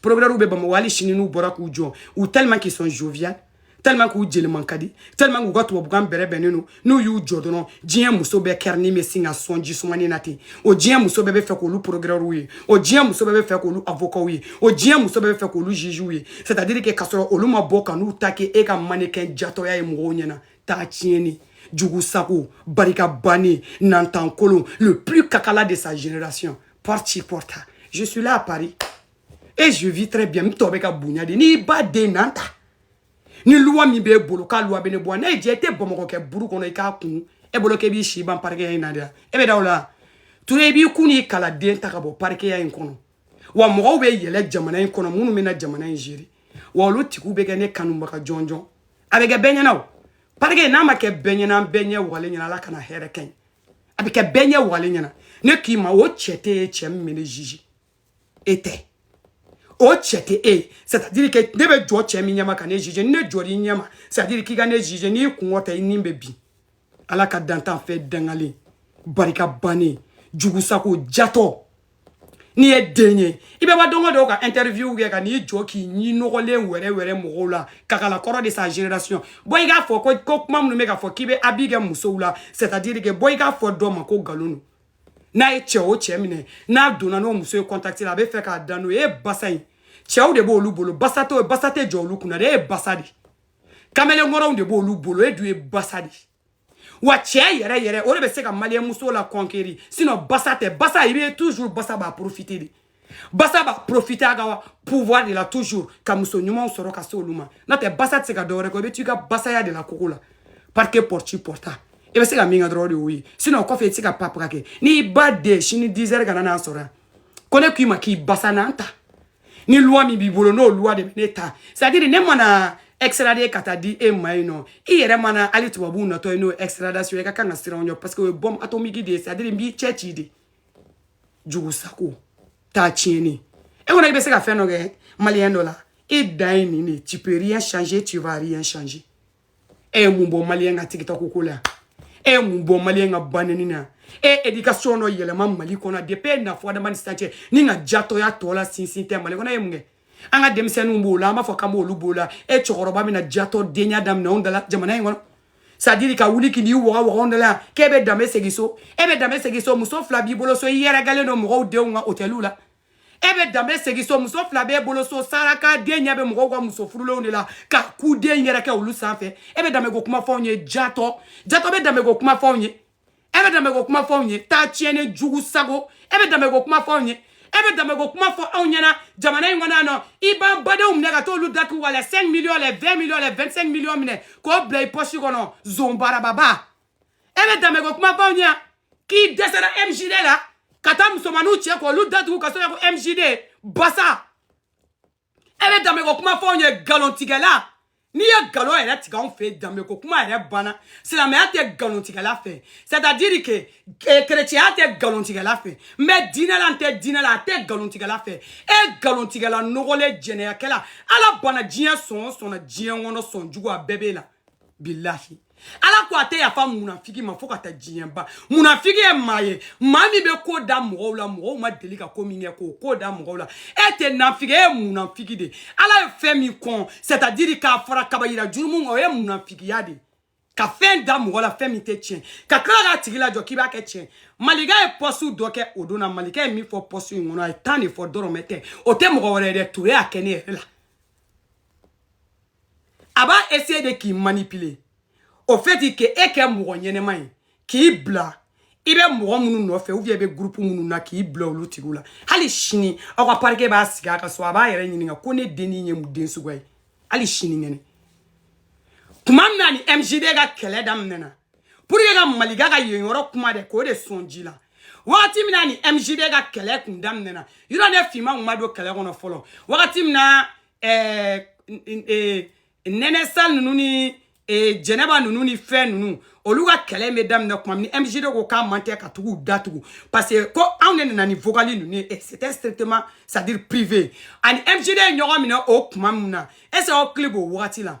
A: Procureurs bɛ Bamakɔ hali sini n'u bɔra k'u jɔ u tellement qu'ils sont jovial tellement k'u jeli man ka di tellement k'u ka tubabukan bɛrɛ bɛnnen don n'u y'u jɔ dɔrɔn diɲɛ muso bɛɛ kɛrɛnin bɛ sin ka sɔn ji sumani na ten o diɲɛ muso bɛɛ b'a fɛ k'olu procureurs ye o diɲɛ muso bɛɛ b'a fɛ k'olu avocats ye o diɲɛ muso bɛɛ b'a fɛ k'olu juges ye c'est à dire que k'a sɔrɔ olu ma bɔ ka n'u ta kɛ e ka mannequin jatɔya ye mɔgɔw ɲɛna taa tiɲɛni jugusago barika bannen nantankolon le plus kakala de sa génération pɔrti pɔrta je suis là à Paris et je vis très bien n tɔn bɛ ka bonya de n'i ba den nan ta ni loi min b'e bolo k'a loi bɛ ne bɔ n'a ye diɲɛ i tɛ bamakɔ kɛ buru kɔnɔ i k'a kun e bolo k'e b'i si ban parikeya in na de la e bɛ da o la ture i b'i kun n'i kala den ta ka bɔ parikeya in kɔnɔ wa mɔgɔw bɛ yɛlɛ jamana in kɔnɔ minnu bɛ na jamana in gérer wa olu tigiw bɛ kɛ ne kanubaga jɔnjɔn a bɛ kɛ bɛɛ ɲɛna o parike n'a ma kɛ bɛɛ ɲɛna bɛɛ ɲɛ wagalen ɲɛna ala kana hɛrɛ kɛ ɲi a bɛ kɛ bɛɛ ɲɛ walen ɲɛna ne k'i ma o cɛ t'e ye cɛ min bɛ ne juger e tɛ o cɛ tɛ e ye c'est à dire que ne bɛ jɔ cɛ min ɲɛma ka ne juger ni ne jɔr'i ɲɛma c'est à dire k'i ka ne juger n'i kungɔ tɛ i ni bɛ bin ala ka dantanfɛn dangalen barika bannen jugu sago jatɔ n'i ye den ye i bɛ bɔ don o don ka interview kɛ ka n'i jɔ k'i ɲi nɔgɔlen wɛrɛ wɛrɛ mɔgɔw la kakala kɔrɔ de sa génération bɔ i k'a fɔ ko ko maa minnu bɛ k'a fɔ k'i bɛ abus kɛ musow la c'est à dire que bɔ i k'a fɔ dɔ ma ko nkalon don n'a ye cɛ o cɛ minɛ n'a donna n'o muso ye contact la a b'a fɛ ka da n'o ye e basa in cɛw de b'olu bolo basa tɛ basa tɛ jɔ olu kunna dɛ e ye basa de kamelenkɔrɔw de b'olu bolo e dun ye basa de ye wa cɛ yɛrɛ yɛrɛ o de bɛ se ka maliyɛnmuso la conquérir sinɔn basa tɛ basa i bɛ toujours basa b'a profite de basa b'a profite a ka pouvoir de la toujours ka muso ɲumanw sɔrɔ ka se olu ma n'o tɛ basa tɛ se ka dɔwɛrɛ kɛ i bɛ to i ka basaya de la koko la parce que porte porta i bɛ se ka min kɛ dɔrɔn de y'o ye sinɔn kɔfɛ i tɛ se ka papaka kɛ n'i ba den sini 10 heures kana n'a sɔrɔ yan ko ne k'i ma k'i basa n'an ta ni loi min b'i bolo n'o loi de bɛ ne ta c'est à dire ne mana extradé ka taa di e ma yen nɔ i yɛrɛ mana hali tubabuw natɔ ye n'o extradation ye i ka kan ka siran o ɲɛ parce que o ye bombe atomique de ye c'est à dire n b'i cɛci de jugu sago taa tiɲɛni e kɔnɔ i bɛ se ka fɛn dɔ kɛ maliyɛn dɔ la e dan ye nin de tu peux rien changer tu vas rien changer e ye mun bɔ maliyɛn ka tigita ko ko la e ye mun bɔ maliyɛn ka banni na e ye éducation dɔ yɛlɛma mali kɔnɔ depuis e na fɔ adama ni sisan cɛ n'i ka jatɔya tɔ la sinsin tɛ mali kɔnɔ e ye mun kɛ an ka denmisɛnninw b'o la an b'a fɔ k'an b'olu b'o la e cɛkɔrɔba bɛna jatɔdenya daminɛ anw dala jamana in kɔnɔ c'est à dire ka wuli k'i ɲi waga waga anw dala k'e bɛ danbe segin so e bɛ danbe segin so muso fila b'i bolo so i yɛrɛkɛlen don mɔgɔw denw kan hôteliw la e bɛ danbe segin so muso fila b'e bolo so saraka den ɲɛ bɛ mɔgɔw ka muso furulenw de la ka ku den yɛrɛ kɛ olu sanfɛ e bɛ danbe ko kuma fɔ anw ye jatɔ jatɔ bɛ danbe ko kuma fɔ anw ye e bɛ danbe ko kuma fɔ anw ye taa tiɲɛni jugu sago e bɛ danbe ko kuma fɔ anw ye e bɛ danbe ko kuma fɔ anw ɲɛna jamana in kɔnɔ yan nɔ i b'an badenw minɛ ka t'olu datugu wa la 5 miliyɔn les 20 miliyɔn les 25 miliyɔn minɛ k'o bila i pɔsi kɔnɔ zonbarababa e bɛ danbe ko kuma fɔ anw ɲɛ k'i dɛsɛra mgd la ka taa musomaninw cɛ k'olu datugu ka sɔrɔ ko mgd basa e bɛ danbe ko kuma fɔ anw ye nkalontigɛla n'i ye nkalon yɛrɛ tigɛ anw fɛ danbe ko kuma yɛrɛ banna silamɛya tɛ nkalontigɛla fɛ c'est à dire que kerecɛnya eh, tɛ nkalontigɛla fɛ mais diinɛ la n tɛ diinɛ la a tɛ nkalontigɛla fɛ e nkalontigɛla nɔgɔlen jɛnɛyakɛla ala banna diɲɛ sɔn o sɔn na diɲɛ kɔnɔ sɔn jugu a bɛɛ b'e la bilahi ala ko a tɛ yafa munafiki ma fo ka taa diɲɛ ban munafiki ye maa ye maa min bɛ ko da mɔgɔw la mɔgɔw ma deli ka ko min kɛ k'o ko da mɔgɔw la e tɛ nafiki e ye munafiki de ala ye fɛn min kɔn c'est à dire k'a fara kabayira jurumu kan o ye munafikiya de ka fɛn da mɔgɔ la fɛn min tɛ tiɲɛ ka tila k'a tigi lajɔ k'i b'a kɛ tiɲɛ malika ye pɔsiw dɔ kɛ o don na malika ye min fɔ pɔsi in kɔnɔ a ye tan de fɔ dɔrɔmɛ tɛ o tɛ mɔgɔ wɛrɛ ye dɛ ture y'a kɛ ne yɛrɛ la a b'a essayer de k'i manipuler au fait que e kɛ mɔgɔ ɲɛnɛma ye k'i bila i bɛ mɔgɔ minnu nɔfɛ ou bien i bɛ groupe minnu na k'i bila olu tigiw la hali sini aw ka parquet b'a sigi a ka so a b'a yɛrɛ ɲininka ko ne den nin ye mun den suguya ye hali sinikɛnɛ tuma min na an ni mgd ka kɛlɛ daminɛna pour que ka malika ka yen yɔrɔ kuma dɛ k'o de sɔn ji la wagati min na an ni mgd ka kɛlɛ kun daminɛna yɔrɔ ne finma kun ma don kɛlɛ kɔnɔ fɔlɔ wagati min na ɛɛ eh, nɛnɛsa ninnu ni eh, jɛnɛba ninnu ni fɛn ninnu olu ka kɛlɛ bɛ daminɛ tuma min ni mgd ko k'a man tɛ ka tugu datugu parce que ko anw de nana ni vogali ninnu ye eh, c'était strictement c'est à dire privé an ni mgd ye ɲɔgɔn minɛ o tuma min na est ce que aw hakili b'o wagati la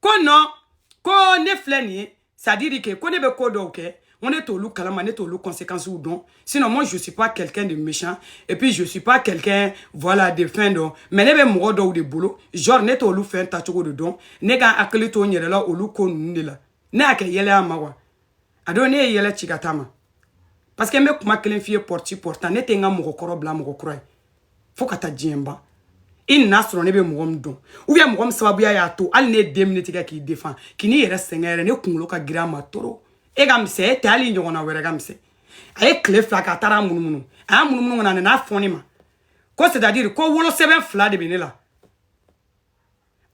A: ko non ko ne filɛ nin ye c'est à dire que ko ne bɛ ko dɔw kɛ ko ne t'olu kalama ne t'olu conséquences dɔn sinon moi je suis pas quelqu'un de méchant et puis je suis pas quelqu'un voilà de fɛn dɔ mais ne bɛ mɔgɔ dɔw de bolo genre ne t'olu fɛn taacogo de dɔn ne ka n hakili to n yɛrɛ la olu ko ninnu de la ne y'a kɛ yɛlɛ ye a ma wa a don ne ye yɛlɛ ci ka taa a ma parce que n bɛ kuma kelen f'i ye pɔrɔti pɔrɔtan ne tɛ n ka mɔgɔ kɔrɔ bila mɔgɔ kura ye fo ka taa diɲɛ ban i nan'a sɔrɔ ne bɛ mɔgɔ min dɔn ou bien mɔgɔ min sababuya y'a to hali ne ye deux minutes kɛ k'i défendre kan'i yɛrɛ sɛgɛn yɛrɛ ne kunkolo ka girin a ma trop e ka misɛn e tɛ hali ɲɔgɔnna wɛrɛ ka misɛn a ye tile fila kɛ a taara a munumunu a y'a munumunu ka na a nan'a fɔ ne ma ko c'est à dire ko wolosɛbɛn fila de bɛ ne la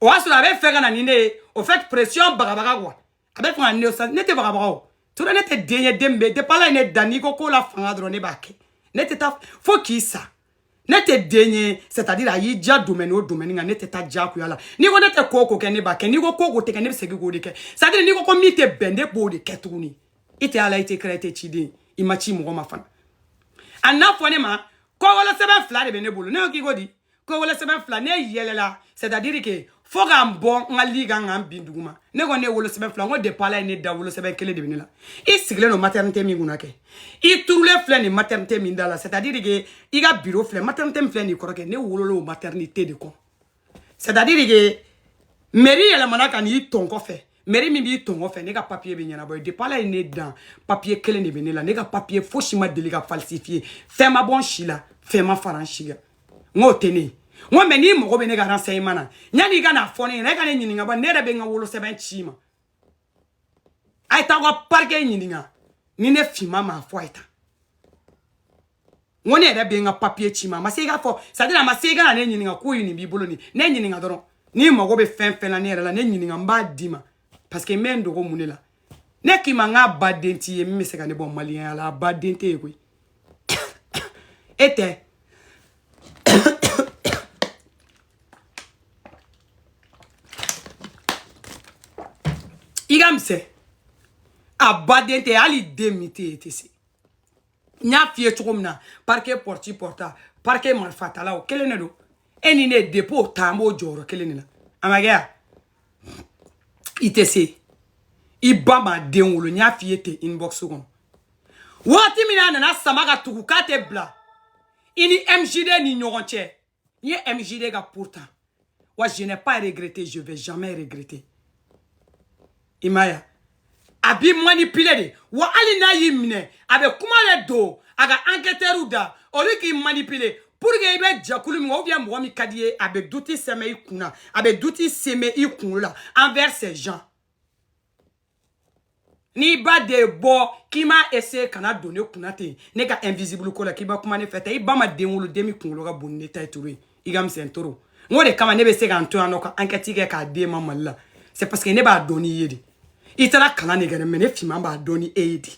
A: o y'a sɔrɔ a bɛ fɛ ka na ni ne ye au fait pression bagabaga quoi a bɛ fanga ne sa ne tɛ bagabaga ture ne tɛ den ye den bɛ depuis ala ye ne dan n'i ko ko la fanga dɔrɔn ne b'a kɛ ne tɛ taa fo k'i sa ne tɛ den ye c'est à dire a y'i diya domaine o domaine kan ne tɛ taa diyagoya la n'i ko ne tɛ ko o ko kɛ ne b'a kɛ n'i ko ko o ko tɛ kɛ ne bɛ segin k'o de kɛ c'est à dire n'i ko ko min tɛ bɛn ne b'o de kɛ tuguni i tɛ ala i tɛ kira i tɛ ciden i ma ci mɔgɔ ma fana a nan'a fɔ ne ma ko wolosɛbɛn fila de bɛ ne bolo ne ko k'i ko di ko wolosɛbɛn fila ne yɛlɛla c'est à dire que fo ka n bɔ n ka lit kan ka n bin duguma ne ko ne wolosɛbɛn fila n ko depuis ala ye ne dan wolosɛbɛn kelen de bɛ ne la i sigilen don maternité min kunna kɛ i turulen filɛ nin maternité min da la c'est à dire que i ka bureau filɛ maternité min filɛ nin kɔrɔ kɛ ne wolola o maternité de kɔ c'est à dire que mairie yɛlɛmana ka n'i tɔn kɔfɛ mairie min b'i tɔn kɔfɛ ne ka papier bɛ ɲɛnabɔ yen depuis ala ye ne dan papier kelen de bɛ ne la ne ka papier fosi ma deli ka falsifier fɛn ma bɔ n si la fɛn ma fara n si kan n k'o tɛ ne ye n ko mɛ n'i mago bɛ ne ka renseignement na yanni i ka n'a fɔ ne ɲɛna e ka ne ɲininka ba ne yɛrɛ bɛ n ka wolosɛbɛn ci i ma a ye taa aw ka parquet ɲininka ni ne finman m'a fɔ a ye tan n ko ne yɛrɛ bɛ n ka papiye ci i ma a ma se i k'a fɔ sadiri a ma se i ka na ne ɲininka ko ye nin b'i bolo nin ne ɲininka dɔrɔn n'i mago bɛ fɛn fɛn na ne yɛrɛ la ne ɲininka n b'a d'i ma parce que n bɛ n dogo mun de la ne k'i ma n k'a ba den t'i ye min bɛ se ka ne bɔ maliyɛnya la a ba den tɛ ye koyi e tɛ i ka misɛn a ba den tɛ hali den min tɛ ye tɛ se n y'a f'i ye cogo min na parquet pɔrɔti pɔrɔta parquet marifatala o kelen de don e ni ne depi o ta an bɛ jɔyɔrɔ kelen de la a ma kɛ yan i tɛ se i ba ma den wolo n y'a f'i ye ten inbox kɔnɔ wagati min na a nana sama ka tugu k'a tɛ bila i ni mjd ni ɲɔgɔn cɛ n ye mjd ka pour ta wa je n'ai pas regretté je vais jamais regretter i ma ya a b'i manipuler de wa hali n'a y'i minɛ a bɛ kuma de don a ka enquêteurw da olu k'i manipuler pour que i bɛ jɛkulu min ou bien mɔgɔ min ka di i ye a bɛ doute semer i kun na a bɛ doute semer i kunkolo la envers ces gens n'i ba de bɔ k'i m'a essayer ka na don ne kunna ten ne ka invisible ko la k'i bɛ kuma ne fɛ ten i ba ma den wolo den min kunkolo ka bon ni ne ta ye ture i ka misɛn ture n k'o de kama ne bɛ se ka n to yan nɔ ka ankɛti kɛ k'a d'e ma mali la c'est parce que ne b'a dɔn n'i ye de i taara kalan de kɛ dɛ mɛ ne finman b'a dɔn ni e ye de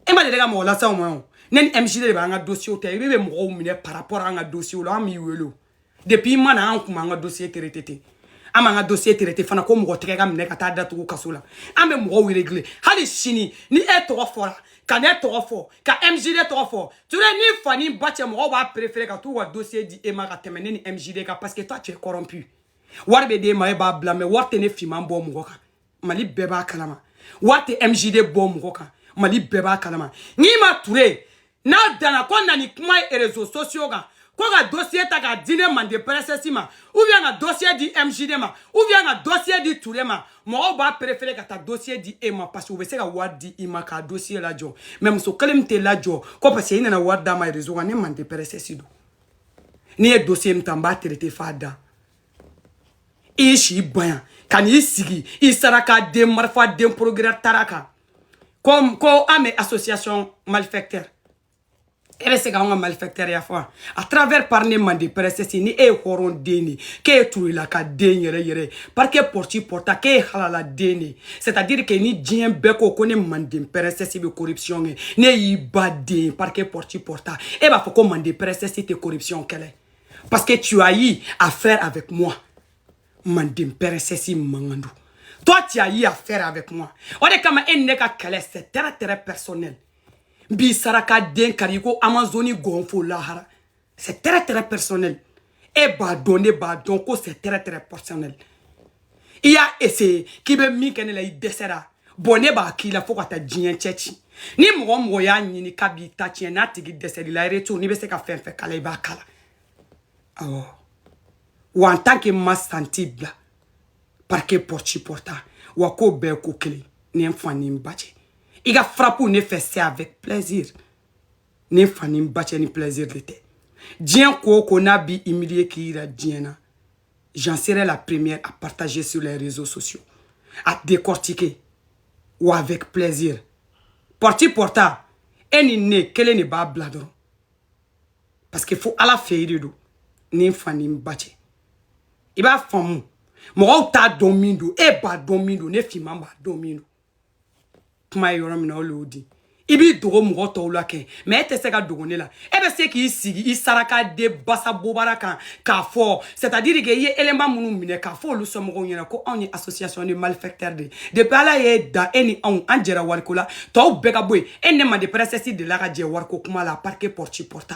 A: e ma deli ka mɔgɔ lase aw ma o ne ni mjd b'an ka dosiyew ta i bɛ bɛ mɔgɔw minɛ par rapport an ka dosiyew la an b'i wele o depuis i ma na an kun b'an ka dosiye traité ten an m'an ka dosiye traité fana ko mɔgɔ tɛgɛ ka minɛ ka taa datugu kaso la an bɛ mɔgɔw réglé hali sini ni e tɔgɔ fɔra ka ne tɔgɔ fɔ ka mjd tɔgɔ fɔ ture ni fa ni ba cɛ mɔgɔw b'a préféré ka t'u ka dossier di e ma ka tɛmɛ ne ni mjd kan parce que toi tu es corrompu wari bɛ d'e ma e b'a bila mɛ wari tɛ ne finman bɔ mɔgɔ kan mali bɛɛ b'a kalama wari tɛ mjd bɔ mɔgɔ kan mali bɛɛ b'a kalama n'i ma ture n'a danna ko na ni kuma ye réseaux sociaux kan ko ka dossier ta k'a di ne mande princesse ma ou bien ka dossier di mjd ma ou bien ka dossier di ture ma mɔgɔw b'a préféré ka taa dosiye di e ma parce que u bɛ se ka wari di i ma ka dosiye lajɔ mɛ muso kelen min tɛ lajɔ ko parce que i nana wari d'a ma rezo kan ne mande princesse don n'i ye dosiye min ta n b'a traité f'a dan i ye si bonya ka n'i sigi i saraka den marifa den procureur tara kan ko ko an bɛ association malfaiteur e bɛ se k'anw ka malfaiteurya fɔ wa à travers par ne mande princesse ni e ye hɔrɔn den de k'e ye turelaka den yɛrɛ yɛrɛ parce que pɔrti pɔrta k'e ye halala den de c'est à dire que ni diɲɛ bɛɛ ko ko ne manden princesse bɛ corruption kɛ n'e y'i ba den parce que pɔrti pɔrta e b'a fɔ ko manden princesse tɛ corruption kɛlɛ parce que tu as eu à faire avec moi manden princesse mankan don toi tu as eu à faire avec moi o de kama e ni ne ka kɛlɛ c'est très très personnel n b'i saraka den kari ko amazoni gɔnfo lahara c'est très très personnel e b'a dɔn ne b'a dɔn ko c'est très très personnel i y'a essaye k'i bɛ min kɛ ne la i dɛsɛra bon ne b'a k'i la fo ka taa diɲɛ cɛ ci ni mɔgɔ o mɔgɔ y'a ɲini k'a b'i ta tiɲɛ n'a tigi dɛsɛr'i la en retour n'i bɛ se ka fɛn o fɛn k'a la i b'a k'a la awɔ wa en tant que maa sensible parce que porti porta wa k'o bɛɛ ko kelen ni n fa ni n ba cɛ i ka frappew ne fɛ c'est avec plaisir ne fa ni n ba cɛ ni plaisir de tɛ diɲɛ ko o ko n'a b'i humilier k'i yira diɲɛ na j'en serai la première à partager sur les réseaux sociaux à décortiquer ou avec plaisir porti porta e ni ne kelen de b'a bila dɔrɔn parce que fo ala fɛ i de don ni n fa ni n ba cɛ i b'a faamu mɔgɔw t'a dɔn min don e b'a dɔn min don ne finman b'a dɔn min don kuma ye yɔrɔ min na o le o di i b'i dogo mɔgɔ tɔw la kɛ mais e tɛ se ka dogo ne la e bɛ se k'i sigi i saraka den basa bobara kan k'a fɔ c'est à dire que i ye élément minnu minɛ k'a fɔ olu sɔmɔgɔw ɲɛna ko anw ye association de malfaiteurs de ye depuis ala y'e da e ni anw an jɛra wariko la tɔw bɛɛ ka bɔ yen e ne mande princesse dela ka jɛ wariko kuma la parce que porti porta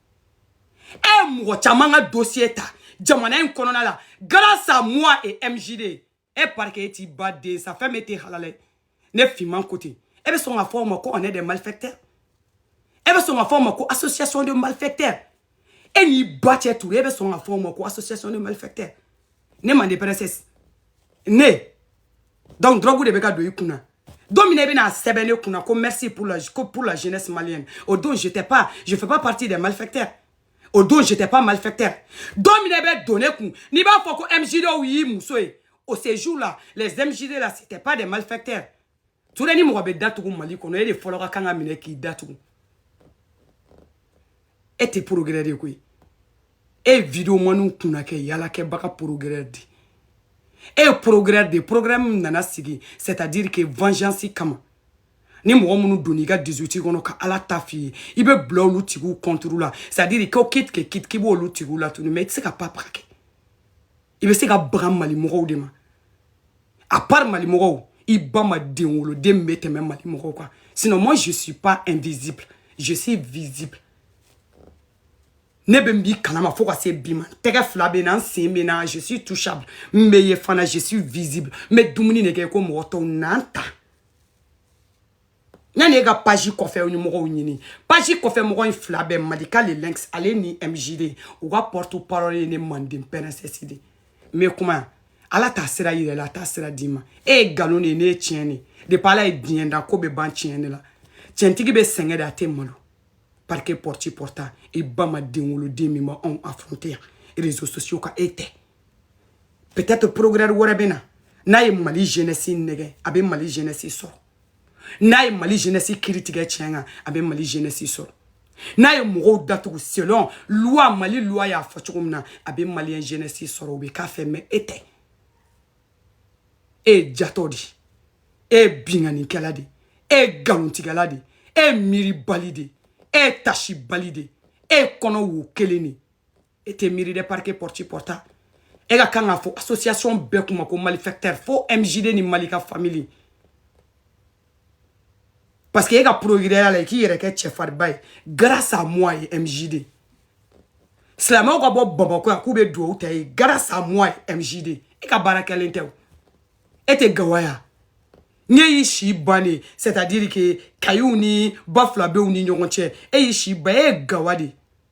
A: e ye mɔgɔ caman ka dosiye ta jamana in kɔnɔna la grâce à moi et MJD e eh, parce que e t'i ba den sa fɛn bɛ tɛ halala ye ne finman ko ten e bɛ sɔn k'a fɔ anw ma ko on est des malfaiteurs e bɛ sɔn k'a fɔ anw ma ko association de malfaiteurs e n'i ba cɛ ture e bɛ sɔn k'a fɔ anw ma ko association de malfaiteurs ne mande princesse ne donc drogue de bɛ ka don i kun na don min na i bɛn'a sɛbɛn ne kun na ko merci pour la ko pour la jeunesse malienne o don j'étais pas je fais pas partie des malfaiteurs o don j'étais pas malfaiteur don min na i bɛ don ne kun n'i b'a fɔ ko MJDw y'i muso ye o ce jour là les MJD là c'était pas des malfaiteurs ture ni mɔgɔ bɛ datugu mali kɔnɔ e de fɔlɔ ka kan ka minɛ k'i datugu e tɛ procureur ye koyi e ye vidéomanw kunna kɛ yalakɛbaga procureur de e ye procureur de procureur min nana sigi c'est à dire que vengeance kama ni mɔgɔ minnu donna i ka 18 kɔnɔ ka ala ta f'i ye i bɛ bila olu tigiw contre la c'est à dire ko k'i tigɛ k'i b'olu tigiw la tuguni mais i tɛ se ka papa kɛ i bɛ se ka baga malimɔgɔw de ma à part malimɔgɔw i ba ma den wolo den min bɛ tɛmɛ malimɔgɔw kan sinon moi je suis pas invisible je suis visible ne bɛ n b'i kalama fo ka se bi ma n tɛgɛ fila bɛ n na n sen bɛ n na je suis touchable n bɛ ye fana je suis visible n bɛ dumuni de kɛ ko mɔgɔ tɔw n'an ta yanni e ka page kɔfɛ ni mɔgɔw ɲini page kɔfɛ mɔgɔ in fila bɛɛ malika le lynx ale ni mjd u ka porte parole ye ne manden princesse de mais kuma ala t'a sira yira i la a t'a sira d'i ma e ye nkalon de ye ne ye tiɲɛ de depuis ala ye diɲɛ da ko bɛ ban tiɲɛ de la tiɲɛtigi bɛ sɛgɛn de a tɛ malo parquet pɔrɔti pɔrɔta i ba ma den wolo den min b'anw affronter yan réseaux sociaux kan e tɛ peut-être procureur wɛrɛ bɛ na n'a ye mali jeunesse nɛgɛn a bɛ mali jeunesse sɔrɔ n'a ye mali jeunesse kiri tigɛ tiɲɛ kan a bɛ mali jeunesse sɔrɔ n'a ye mɔgɔw datugu selon loi mali loi y'a fɔ cogo min na a bɛ maliyɛn jeunesse sɔrɔ u bɛ k'a fɛ mais e tɛ e ye jatɔ de e ye binkannikɛla de e ye nkalontigɛla de e ye miiribali de e ye tasibali de e ye kɔnɔ wo kelen de e tɛ miiri dɛ parquet pɔriti pɔrita e ka kan k'a fɔ association bɛɛ kun ma ko malfaiteur fo mjd ni malika famille parce que e ka procureurya la i k'i yɛrɛ kɛ cɛfariba ye grâce à moi ye mjd silamɛw ka bɔ bamakɔ yan k'u bɛ duwawu ta ye grâce à moi ye mjd e ka baara kɛlen tɛ o e tɛ gawaya n'e y'i si ban de c'est à dire que kayiw ni bafulabɛw ni ɲɔgɔn cɛ e y'i si ban e ye gawa de ye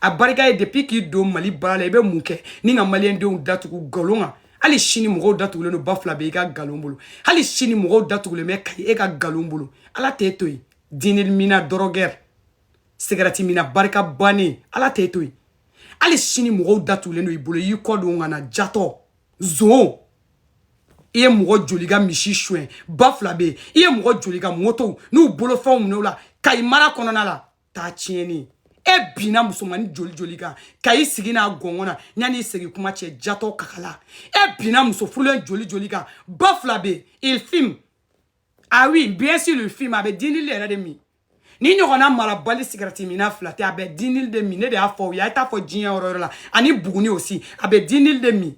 A: a barika ye depuis k'i don mali baara la i bɛ mun kɛ ni ka maliyɛndenw datugu nkalon kan hali sini mɔgɔw datugulen don bafulabɛ i ka nkalon bolo hali sini mɔgɔw datugulen bɛ kayi e ka nkalon bolo ala t'e to yen dinili minna dɔrɔgɛri sigarɛti minna barika bannen ala t'e to yen hali sini mɔgɔw datugulen don i bolo i y'i kɔ don ka na jatɔ zon i ye mɔgɔ joli ka misi suɲɛ bafulabɛ yen i ye mɔgɔ joli ka motow n'u bolofɛnw minɛ u la kayi mara kɔnɔna la taa tiɲɛni e binna musomannin joli joli kan kayi sigi n'a gɔngɔn na yanni i segin kuma cɛ jatɔ kakala e binna muso furulen joli joli kan bafulabɛ il fume ah oui bien sûr il fume a bɛ dinili yɛrɛ de min ni ɲɔgɔnna marabali sigarɛti minna fila tɛ a bɛ dinili de min ne de y'a fɔ aw ye a ye t'a fɔ diɲɛ yɔrɔ yɔrɔ la ani buguni aussi a bɛ dinili de min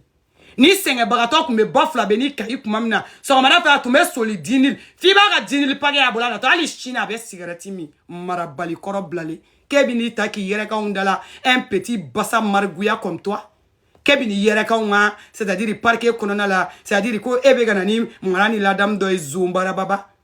A: ni sɛgɛnbagatɔ tun bɛ bafulabɛ ni kayi kuma min na sɔgɔmada fɛ a tun bɛ soli dinili f'i b'a ka dinili paquet y'a bolo a natɔ hali sini a bɛ sigarɛti min marabali kɔrɔ bilalen k'e bɛ n'i ta k'i yɛrɛ k'anw da la un petit basa margouillat comme toi k'e bɛ n'i yɛrɛ k'anw ka c'est à dire parquet kɔnɔna la c'est à dire ko e bɛ ka na ni mara ni ladamu dɔ ye zonbarababa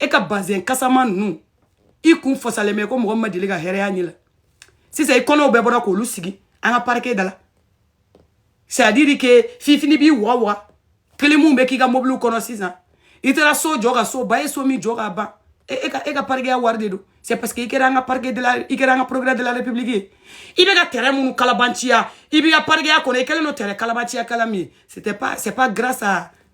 A: e ka bazɛn kasama ninnu i kun fasalen bɛ komi mɔgɔ ma deli ka hɛrɛya ɲɛ la sisan i kɔnɔw bɛɛ bɔra k'olu sigi an ka parquet da la c'est à dire que fifini b'i wa wa kilimu bɛ k'i ka mobiliw kɔnɔ sisan i taara so jɔ ka so ban i ye so min jɔ k'a ban e, e ka e ka parikeya wari de don c'est parce que i kɛra an ka parquet de la i kɛra an ka procureur de la république ye i bɛ ka terrain minnu kalabanciya i b'i ka parikeya kɔnɔ i kɛlen don terrain kalabanciya kala min ye c'était pas c'est pas grâce à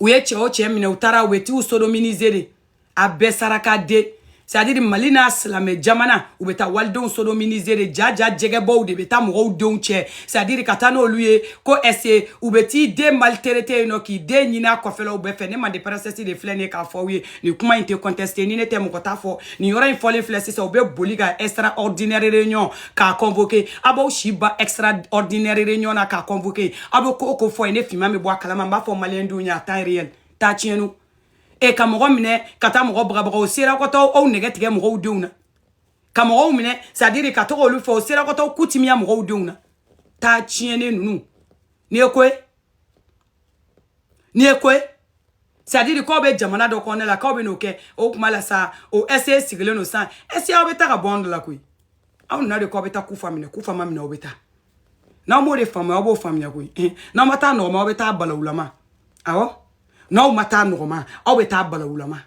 A: u ye cɛ o cɛ minɛ u taara u bɛ t'u sodominize de a bɛɛ saraka den c'est à dire mali n'a silamɛ jamana u bɛ taa walidenw sodominize de ja ja jɛgɛbɔw de bɛ taa mɔgɔw denw cɛ c'est à dire ka taa n'olu ye ko ɛse u bɛ t'i den maltraité yen nɔ k'i den ɲini a kɔfɛlaw bɛɛ fɛ ne mande princesse de filɛ ne k'a fɔ aw ye nin kuma in tɛ kɔntɛsite ni ne tɛ mɔgɔ t'a fɔ nin yɔrɔ in fɔlen filɛ sisan u bɛ boli ka extraordinaire réunion k'a convoqué a b'aw si ba extraordinaire réunion na k'a convoqué a bɛ ko o ko fɔ yen ne finman bɛ bɔ a kalama n b'a fɔ maliyɛn denw ye à temps réel taa tiɲɛnu e ka mɔgɔ minɛ ka taa mɔgɔ bagabaga o sera ka taa aw nɛgɛ tigɛ mɔgɔw denw na ka mɔgɔw minɛ c'est à dire ka taa olu fɔ o sera ka taa ku timiya mɔgɔw denw na taa tiɲɛnen ninnu n'i ye ko ye N'i ye ko ye c'est à dire k'aw bɛ jamana dɔ kɔnɔna la k'aw bɛ n'o kɛ o kuma la sa o ɛse sigilen don san ɛse aw bɛ taa ka bɔ anw de la koyi aw nana de k'aw bɛ taa kufa minɛ kufa ma minɛ aw bɛ taa n'aw m'o de faamuya aw b'o faamuya koyi n'aw ma taa nɔgɔma aw bɛ taa balawulama awɔ n'aw ma taa nɔgɔma aw bɛ taa balawulama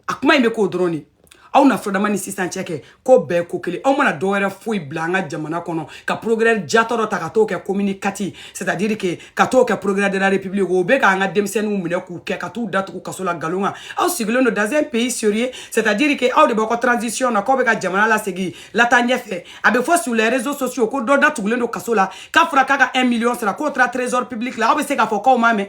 A: a kuma in bɛ k'o dɔrɔn de aw na fɔdama ni sisan cɛ kɛ ko bɛɛ ko kelen aw ma na dɔ wɛrɛ foyi bila an ka jamana kɔnɔ ka procureur jatɔ dɔ ta ka t'o kɛ commune 4 c'est à dire que ka t'o kɛ procureur de la république o bɛ k'an ka denmisɛnninw minɛ k'u kɛ ka t'u datugu kaso la nkalon kan aw sigilen don dans un pays sérieux c'est à dire que aw de b'aw ka transition na k'aw bɛ ka jamana lasegin lataa ɲɛfɛ a bɛ fɔ sur les réseaux sociaux ko dɔ datugulen don kaso la k'a fɔra k'a ka 1 million sara k'o taara trésor public la aw bɛ se k'a fɔ k'aw m'a mɛn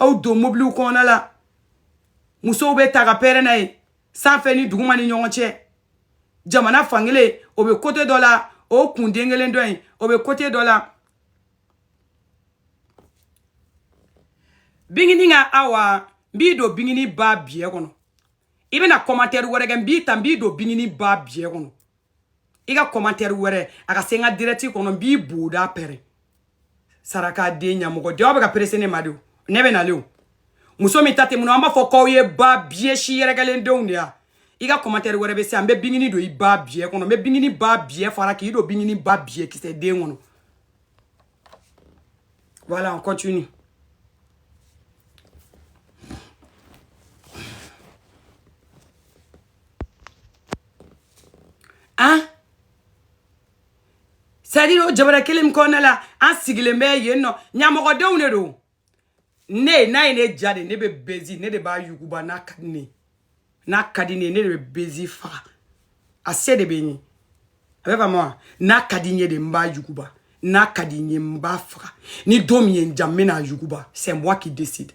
A: aw don mobiliw kɔnɔna la musow bɛ taa ka pɛrɛn n'a ye sanfɛ ni duguma ni ɲɔgɔn cɛ jamana fankelen o bɛ kote dɔ la o kun den kelen dɔ in o bɛ kote dɔ la bingini ka awa n b'i don bingini ba biyɛ kɔnɔ i bɛna kɔmantɛri wɛrɛ kɛ n b'i ta n b'i don bingini ba biyɛ kɔnɔ i ka kɔmantɛri wɛrɛ ka se n ka dirɛti kɔnɔ n b'i boda pɛrɛn saraka den ɲamɔgɔden aw bɛ ka perese ne ma de o ne bɛ nalen o muso min ta tɛ mun na an b'a fɔ k'aw ye ba biyɛ si yɛrɛkɛlen denw de ya i ka kɔmantɛri wɛrɛ bɛ se yan n bɛ bingini don i ba biyɛ kɔnɔ n bɛ bingini ba biyɛ fara k'i don bingini ba biyɛ kisɛ den kɔnɔ voilà on continue hein c'est à dire o jamana kelen min kɔnɔna la an sigilen bɛ yen nɔ ɲamɔgɔdenw de don ne n'a ye ne diya de ne bɛ buzz ne de b'a yuguba n'a ka di ne n'a ka di ne ne de bɛ buzz faga a se de bɛ n ye a bɛ faamu wa n'a ka di n ye de n b'a yuguba n'a ka di n ye n b'a faga ni don min ye n diya n bɛna a yuguba c'est moi qui décide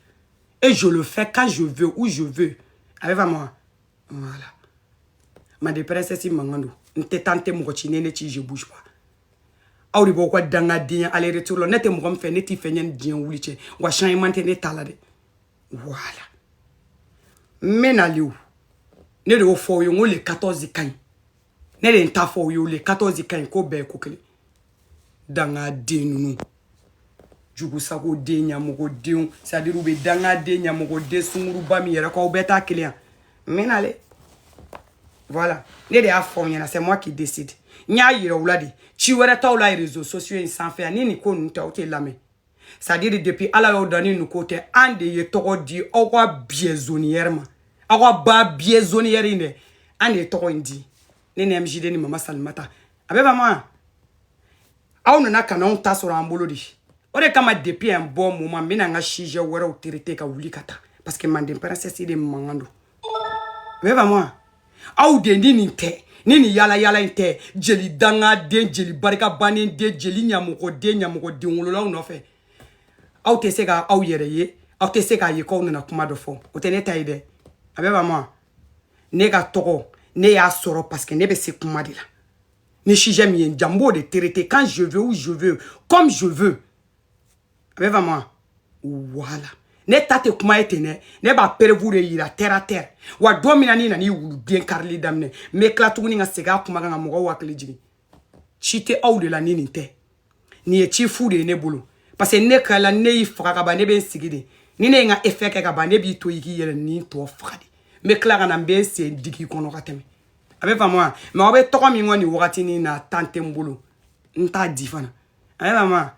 A: et je le fais quand je veux où je veux a bɛ faamu wa voilà manden princesse mankan don n tɛ taa n tɛ mɔgɔ ci ne ne ci je bouge pas aw de b'aw ka dangadenya aller retour la ne tɛ mɔgɔ min fɛ ne t'i fɛ yanni diɲɛ wuli cɛ wa changement tɛ ne ta la dɛ voilà n bɛ nali o ne de y'o fɔ aw ye n ko le 14 ka ɲi ne de ye n ta fɔ aw ye o le 14 ka ɲi k'o bɛɛ ye ko kelen danga den ninnu jugusago den ɲamɔgɔ denw c'est à dire u bɛɛ danga den ɲamɔgɔ den sunguruba min yɛrɛ kɔ aw bɛɛ ta kelen n bɛ na dɛ voilà ne de y'a fɔ aw ɲɛna c'est moi qui décide n y'a yira u la de ci wɛrɛ t'aw la réseaux sociaux in sanfɛ ni nin ko ninnu tɛ aw tɛ lamɛn c'est à dire depuis ala y'aw dan ni nin ko tɛ an de ye tɔgɔ di aw ka prisonnière ma aw ka ba prisonnière in dɛ an de ye tɔgɔ in di ne ni mgd ni mama salimata a bɛ faamu wa aw nana ka n'anw ta sɔrɔ an bolo de o de kama depuis un bon moment n bɛna n ka sujet wɛrɛw traiter ka wuli ka taa parce que manden princesse de mankan don a bɛ faamu wa aw de ni nin tɛ ni nin yala yala in tɛ jeli danga den jeli barika bannen den jeli ɲamɔgɔ den ɲamɔgɔ den wololaw nɔfɛ aw tɛ se ka aw yɛrɛ ye aw tɛ se k'a ye k'aw nana kuma dɔ fɔ o tɛ ne ta ye dɛ a bɛ faamu wa ne ka tɔgɔ ne y'a sɔrɔ parce que ne bɛ se kuma de la ni sujet min ye n diya n b'o de traiter quand je veux où je veux comme je veux a bɛ faamu wa voilà ne ta tɛ kuma ye ten dɛ ne b'a preuve de yira terre à terre wa don min na n'i nan'i wuluden karili daminɛ n bɛ tila tuguni ka segin a kuma kan ka mɔgɔw hakili jigin ci tɛ aw de la ni nin tɛ nin ye ci fu de ye ne bolo parce que ne kala ne y'i faga ka ban ne bɛ n sigi de ni ne ye n ka effet kɛ ka ban ne b'i to i k'i yɛrɛ ni tɔ faga de n bɛ tila ka na n bɛ n sen digi kɔnɔ ka tɛmɛ a bɛ faamu wa mais aw bɛ tɔgɔ min kɔ nin wagatinin na temps tɛ n bolo n t'a di fana a bɛ faamu wa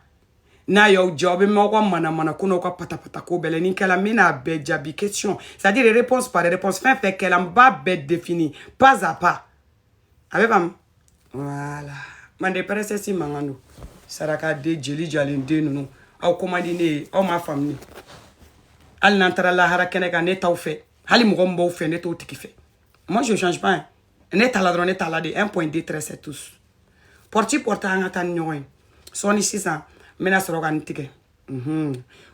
A: n'a y'aw diya aw bɛ mɛn aw ka manamana ko n'aw ka patapata ko bɛɛ la ni kɛla n bɛna a bɛɛ jaabi question c'est à dire réponse par réponse fɛn fɛn kɛla n b'a bɛɛ défini pas à pas a bɛ faamu voilà manden princesse mankan don saraka den jeli jalen den ninnu aw ko man di ne ye aw ma faamu hali n'an taara lahara kɛnɛ kan ne t'aw fɛ hali mɔgɔ min b'aw fɛ ne t'o tigi fɛ moi je change pas ne t'a la dɔrɔn ne t'a la de un point deux traits c'est tout porte porte an ka taa ni ɲɔgɔn ye sɔɔni sisan n bɛna sɔrɔ ka nin tigɛ mhm.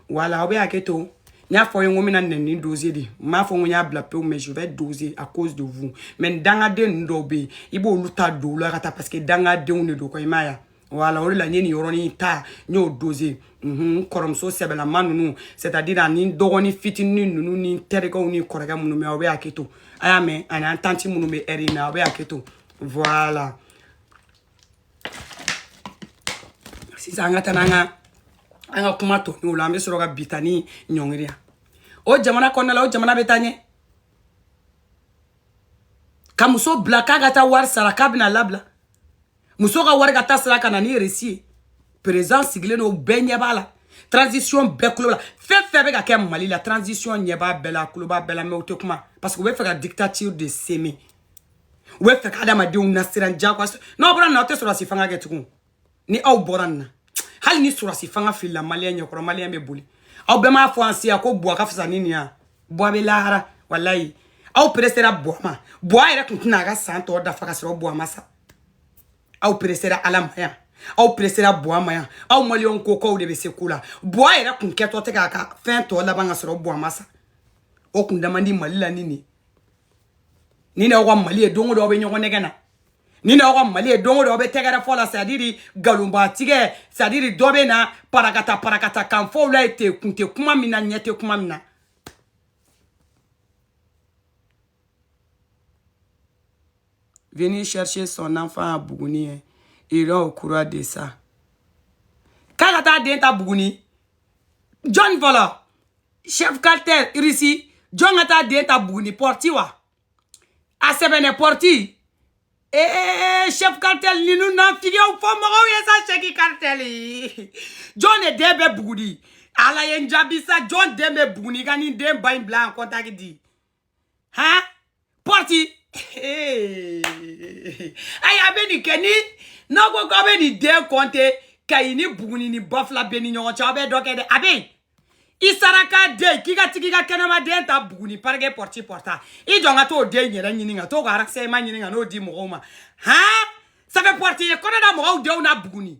A: voilà aw bɛ hakɛ to n y'a fɔ aw ye n ko n bɛna nɛni doze de n m'a fɔ n ko n y'a bila pewu mais je vais doser à cause de vous mais nin dangaden ninnu dɔw bɛ yen i b'olu ta don la ka taa parce que dangadenw de don kɔ i m'a ye voilà o de la n ye nin yɔrɔnin ta n y'o doze n kɔrɔmuso sɛbɛlama ninnu c'est à dire ani dɔgɔnin fitinin ninnu ni n terikɛw ni kɔrɔkɛ minnu bɛ aw bɛ hakɛ to a y'a mɛn ani an tanti minnu bɛ ɛri in na aw bɛ hakɛ to voilà sisan an ka taa n'an ka an ka kuma tɔ ninnu la an bɛ sɔrɔ ka bita ni ɲɔngiri yan o jamana kɔnɔna la o jamana bɛ taa ɲɛ ka muso bila k'a ka taa wari sara k'a bɛna labila muso ka wari ka taa sara ka na ni resi ye perezidan sigilen don bɛɛ ɲɛ b'a la transition bɛɛ kulo b'a la fɛn o fɛn bɛ ka kɛ mali la transition ɲɛ b'a bɛɛ la a kulo b'a bɛɛ la mais u tɛ kuma parce que u b'a fɛ ka dictature de semer u b'a fɛ ka adamadenw nasiran jagoya n'aw bɔra nin na aw tɛ sɔrɔdasi fanga kɛ tugun ni aw bɔra nin na hali ni sɔrɔdasi fanga filila maliyɛn ɲɛkɔrɔ maliyɛn bɛ boli aw bɛɛ m'a fɔ an siya ko buwa ka fisa ni nin yan buwa bɛ lahara walayi aw peresera buwa ma buwa yɛrɛ tun tɛna a ka san tɔ dafa ka sɔrɔ buwa ma sa aw peresera ala ma yan aw peresera buwa ma yan aw maliyɛnw ko k'aw de bɛ se ko la buwa yɛrɛ tun kɛtɔ tɛ k'a ka fɛn tɔ laban ka sɔrɔ buwa ma sa o kunda man di mali la ni nin ni n'aw ka mali ye don o don aw bɛ ɲɔgɔn nɛgɛn na ni n'aw ka mali ye don o don aw bɛ tɛgɛrɛ fɔ la c'est à dire galonba tigɛ c'est à dire dɔ bɛ na parakata parakata kan fɔ aw la ye te kun tɛ kuma min na ɲɛ tɛ kuma min na venir chercher son enfant à Bougouni, hein. il est au courant de ça. K'a ka taa den ta Bougouni, jɔn voilà chef cartel irisi jɔn ka taa den ta buguni pɔrti wa a sɛbɛnnen pɔrti ee chef cartel ninnu na figew fɔ mɔgɔw ye sa chef cartel jɔn de den bɛ buguni ala ye n jaabi sa jɔn den bɛ buguni ka nin den ba in bila yan contact di ha pɔriti ayi a bɛ nin kɛ ni n'aw ko k'aw bɛ nin den kɔnte kayi ni buguni ni bafulabɛ ni ɲɔgɔn cɛ aw bɛ dɔ kɛ dɛ a bɛ i saraka de k'i ka t'i ka kɛnɛma den ta buguni parce que pɔriti pɔrita i jɔ n ka t'o den yɛrɛ ɲini ka t'o ka arakisɛma ɲini ka n'o di mɔgɔw ma han ça fait pɔriti ye kɔnɔ da mɔgɔw denw na buguni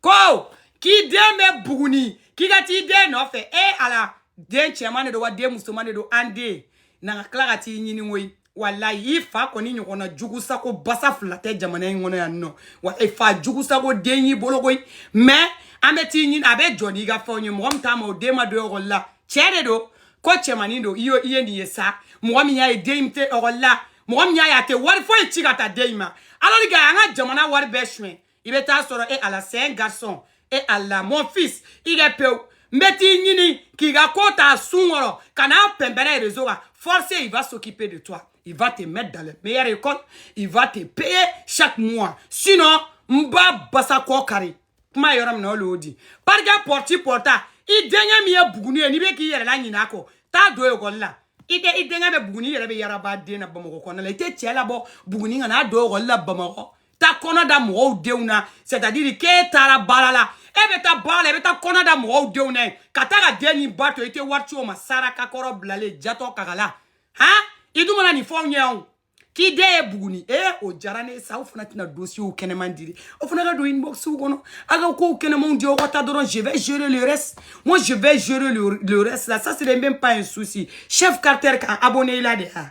A: ko k'i den bɛ buguni k'i ka t'i den nɔfɛ e ala den cɛman de don wa den musoman de don an de na ka tila ka t'i ɲini koyi walayi i fa kɔni ɲɔgɔnna jugu sago basa fila tɛ jamana in kɔnɔ yan nɔ wa e fa jugu sago den y'i bolo koyi mais an bɛ t'i ɲini a bɛ jɔ n'i ka fɛnw ye mɔgɔ min t'a ma o den ma don ekɔli la cɛ de don ko cɛmanin don i ye i ye nin ye sa mɔgɔ min y'a ye den in tɛ ekɔli la mɔgɔ min y'a ye a tɛ wari foyi ci ka taa den in ma alors que an ka jamana wari bɛɛ suɲɛ i bɛ t'a sɔrɔ e ala c'est un garçon e ala mon fils i kɛ pewu n bɛ t'i ɲini k'i ka ko ta sun kɔrɔ ka n'a pɛnpɛrɛ réseau kan forcé il va s'occuper de toi il va te mettre dans le meilleur école il va te payer chaque mois sinon n b'a basa kɔ kari kuma yɔrɔ min na o le y'o di parikɛ pɔriti pɔrita i denkɛ min ye buguni ye n'i bɛ k'i yɛrɛ la ɲinɛ a kɔ t'a don ekɔli la i tɛ i denkɛ bɛ buguni i yɛrɛ bɛ yaraba den na bamakɔ kɔnɔna la i tɛ cɛ labɔ buguni ka n'a don ekɔli la bamakɔ taa kɔnɔ da mɔgɔw denw na c'est à dire k'e taara baara la e bɛ taa baara la i bɛ taa kɔnɔ da mɔgɔw denw na yen ka taa ka den ni ba to i tɛ wari ci o ma saraka kɔrɔ bilalen jatɔ kakala han i dun mana nin fɔ anw ye anw k'i den ye buguni e o diyara ne ye sa aw fana tɛ na dosiyew kɛnɛman diri aw fana ka don inboxw kɔnɔ aw ka kow kɛnɛmanw di aw ka taa dɔrɔn je vais gérer le reste moi je vais gérer le, le reste là ça c'est même pas un souci chef carter kan abonné i la de a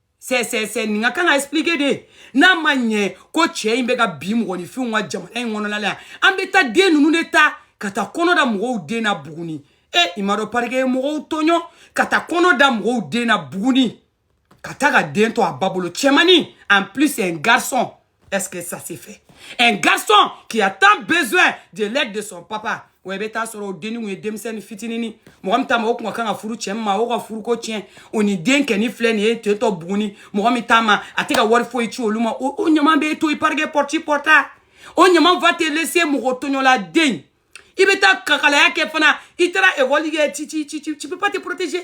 A: c'est c'est c'est nin ka kan ka expliquer de n'a ma ɲɛ ko cɛ in bɛ ka bin mɔgɔninfinw kan jamana in kɔnɔna la yan an bɛ taa den ninnu de ta ka taa kɔnɔ da mɔgɔw den na buguni e i m'a dɔn parike ye mɔgɔw tɔɲɔ ka taa kɔnɔ da mɔgɔw den na buguni ka taa ka den to a ba bolo cɛmani en plus un garçon Est-ce que ça s'est fait Un garçon qui a tant besoin de l'aide de son papa. Ouais, bɛ t'a sɔrɔ o denni kun ye denmisɛnnin fitinini mɔgɔ min ta ma o kun ka kan ka furu cɛ ma o ka furu ko tiɲɛ o ni denkɛnin filɛ nin ye ten to buguni mɔgɔ min ta ma a tɛ ka wari foyi ci olu ma o o ɲama bɛ to i parike pɔrɔti pɔrɔta o ɲama va te laisser mɔgɔ tɔɲɔla den i bɛ taa kakalaya kɛ fana i taara ekɔli kɛ tu tu tu tu tu peux pas te protéger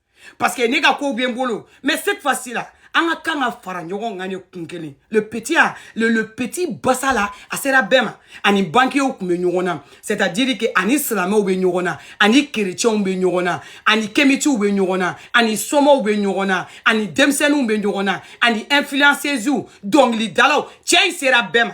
A: parce que ne ka kow bɛ n bolo mais cette fois ci la an ka kan ka fara ɲɔgɔn kan ne kun kelen le petit a le, le petit basa la a sera bɛɛ ma ani bankiyew tun bɛ ɲɔgɔn na c'est à dire que ani silamɛw bɛ ɲɔgɔn na ani kerecɛnw bɛ ɲɔgɔn na ani kemitiw bɛ ɲɔgɔn na ani somaw bɛ ɲɔgɔn na ani denmisɛnninw bɛ ɲɔgɔn na ani influenceuses dɔnkilidalaw cɛ in sera bɛɛ ma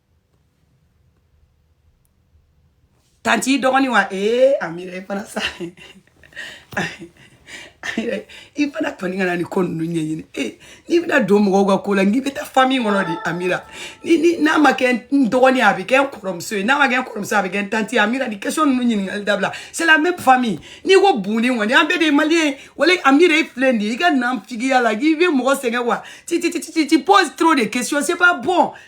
A: tanti dɔgɔnin wa ee amira i fana sa i fana kɔni kana nin ko ninnu ɲɛɲini e n'i bɛna don mɔgɔw ka ko la n'i bɛ taa fami kɔnɔ de amira ni n'a ma kɛ n dɔgɔnin a bɛ kɛ n kɔrɔmuso ye n'a ma kɛ n kɔrɔmuso a bɛ kɛ n tanti amira nin question ninnu ɲininkali dabila c'est la même famille n'i ko buguni kɔni an bɛɛ de ye maliyɛn ye voilà amira e filɛ nin ye i ka naafigiya la k'i bɛ mɔgɔ sɛgɛn wa tu tu tu tu tu poses trop de questions c'est pas bon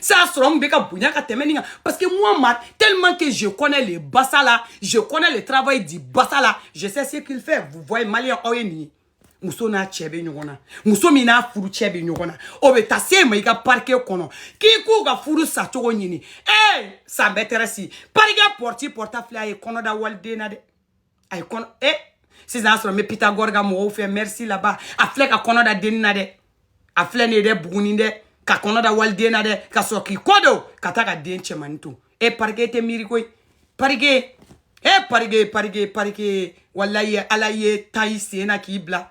A: C'est à ce moment ka bonya ka tɛmɛ nin kan parce que moi ma tellement que je connais les bassa là je connais le travail du bassa là je sais ce qu'il fait vous voyez malien aw ye nin ye muso n'a cɛ bɛ ɲɔgɔn na muso min n'a furu cɛ bɛ ɲɔgɔn na o bɛ taa se ma i ka parike kɔnɔ k'i k'u ka furu sacogo ɲini ee ça m'intéresse parike pɔrɔti pɔrɔta filɛ a ye kɔnɔ da waliden na dɛ a ye kɔnɔ e sisan y'a sɔrɔ n bɛ pitagɔri ka mɔgɔw fɛ merci là-bas a filɛ ka kɔnɔ da denni na dɛ a filɛ nin ye dɛ buguni dɛ ka kɔnɔ da waliden na dɛ ka sɔrɔ k'i kɔ don ka taa ka den cɛmanni to e parike tɛ miiri koyi parike e parike parike parike walayi ala y'i ta i sen na k'i bila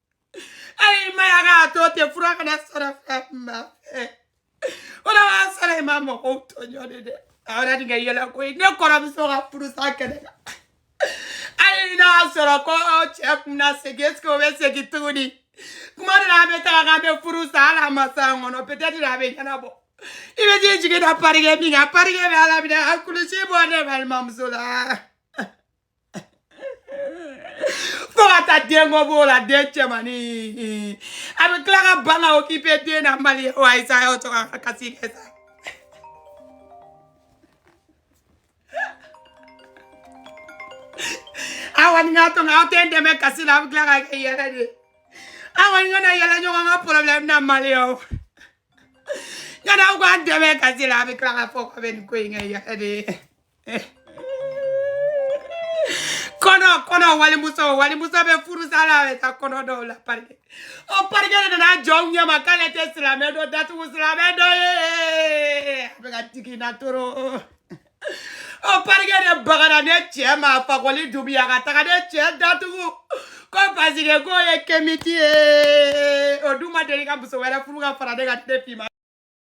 A: ayi ma y'a k'a to ten fura kana sara fɛn ma fɛ ala b'a sara i ma mɔgɔw tɔɲɔ de dɛ a yɛrɛ nin kɛ yɛlɛ ko ye ne kɔrɔmuso ka furusa kɛnɛ kan hali n'a y'a sɔrɔ ko cɛ kun na segin esike o bɛ segin tuguni kuma dɔ la an bɛ taga k'an bɛ furu sa hali a ma sa an kɔnɔ peut-être a bɛ ɲɛnabɔ i bɛ t'i jigi da parike min kan parike bɛ ala minɛ a kulusi bɔ ne balimamuso la fo ka taa den kɔ b'o la den cɛmannin a bɛ tila ka ban ka okipe den na mali ye wa ayisa y'o to n ka kasi kɛ sa aw kɔni ka to aw tɛ n dɛmɛ kasi la aw bɛ tila ka kɛ yɛlɛ de aw kɔni kana yɛlɛ ɲɔgɔn ka porobilɛmu na mali ye o yanni aw k'an dɛmɛ kasi la a bɛ tila k'a fɔ k'a bɛ nin ko in kɛ yɛlɛ de ye kɔnɔ kɔnɔ walimuso walimuso bɛ furusa la a bɛ taa kɔnɔ d'o la parike o parike de nana jɔ n ɲɛma k'ale tɛ silamɛ dɔ datugu silamɛ dɔ ye a bɛ ka digi n na trop o parike de bagana ne cɛ ma fakoli dunbiya ka taga ne cɛ datugu ko pasike k'o ye kemiti ye o dun ma deli ka muso wɛrɛ furu ka fara ne kan ne fima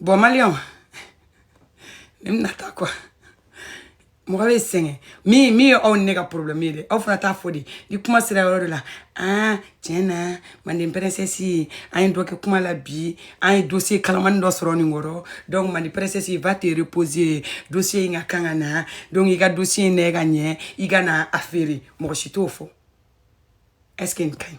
A: bon maliyɛnw ne bɛna taa quoi mɔgɔ bɛ sɛgɛn min min ye aw ni ne ka problème ye dɛ aw fana t'a fɔ de ni kuma sera yɔrɔ dɔ la a tiɲɛna manden princesse an ye dɔ kɛ kuma la bi an ye dossier kalaman dɔ sɔrɔ nin kɔrɔ donc manden princesse va te reposer dossier in ka kan ka na donc i ka dossier n'a ka ɲi i ka na a feere mɔgɔ si t'o fɔ est ce que nin ka ɲi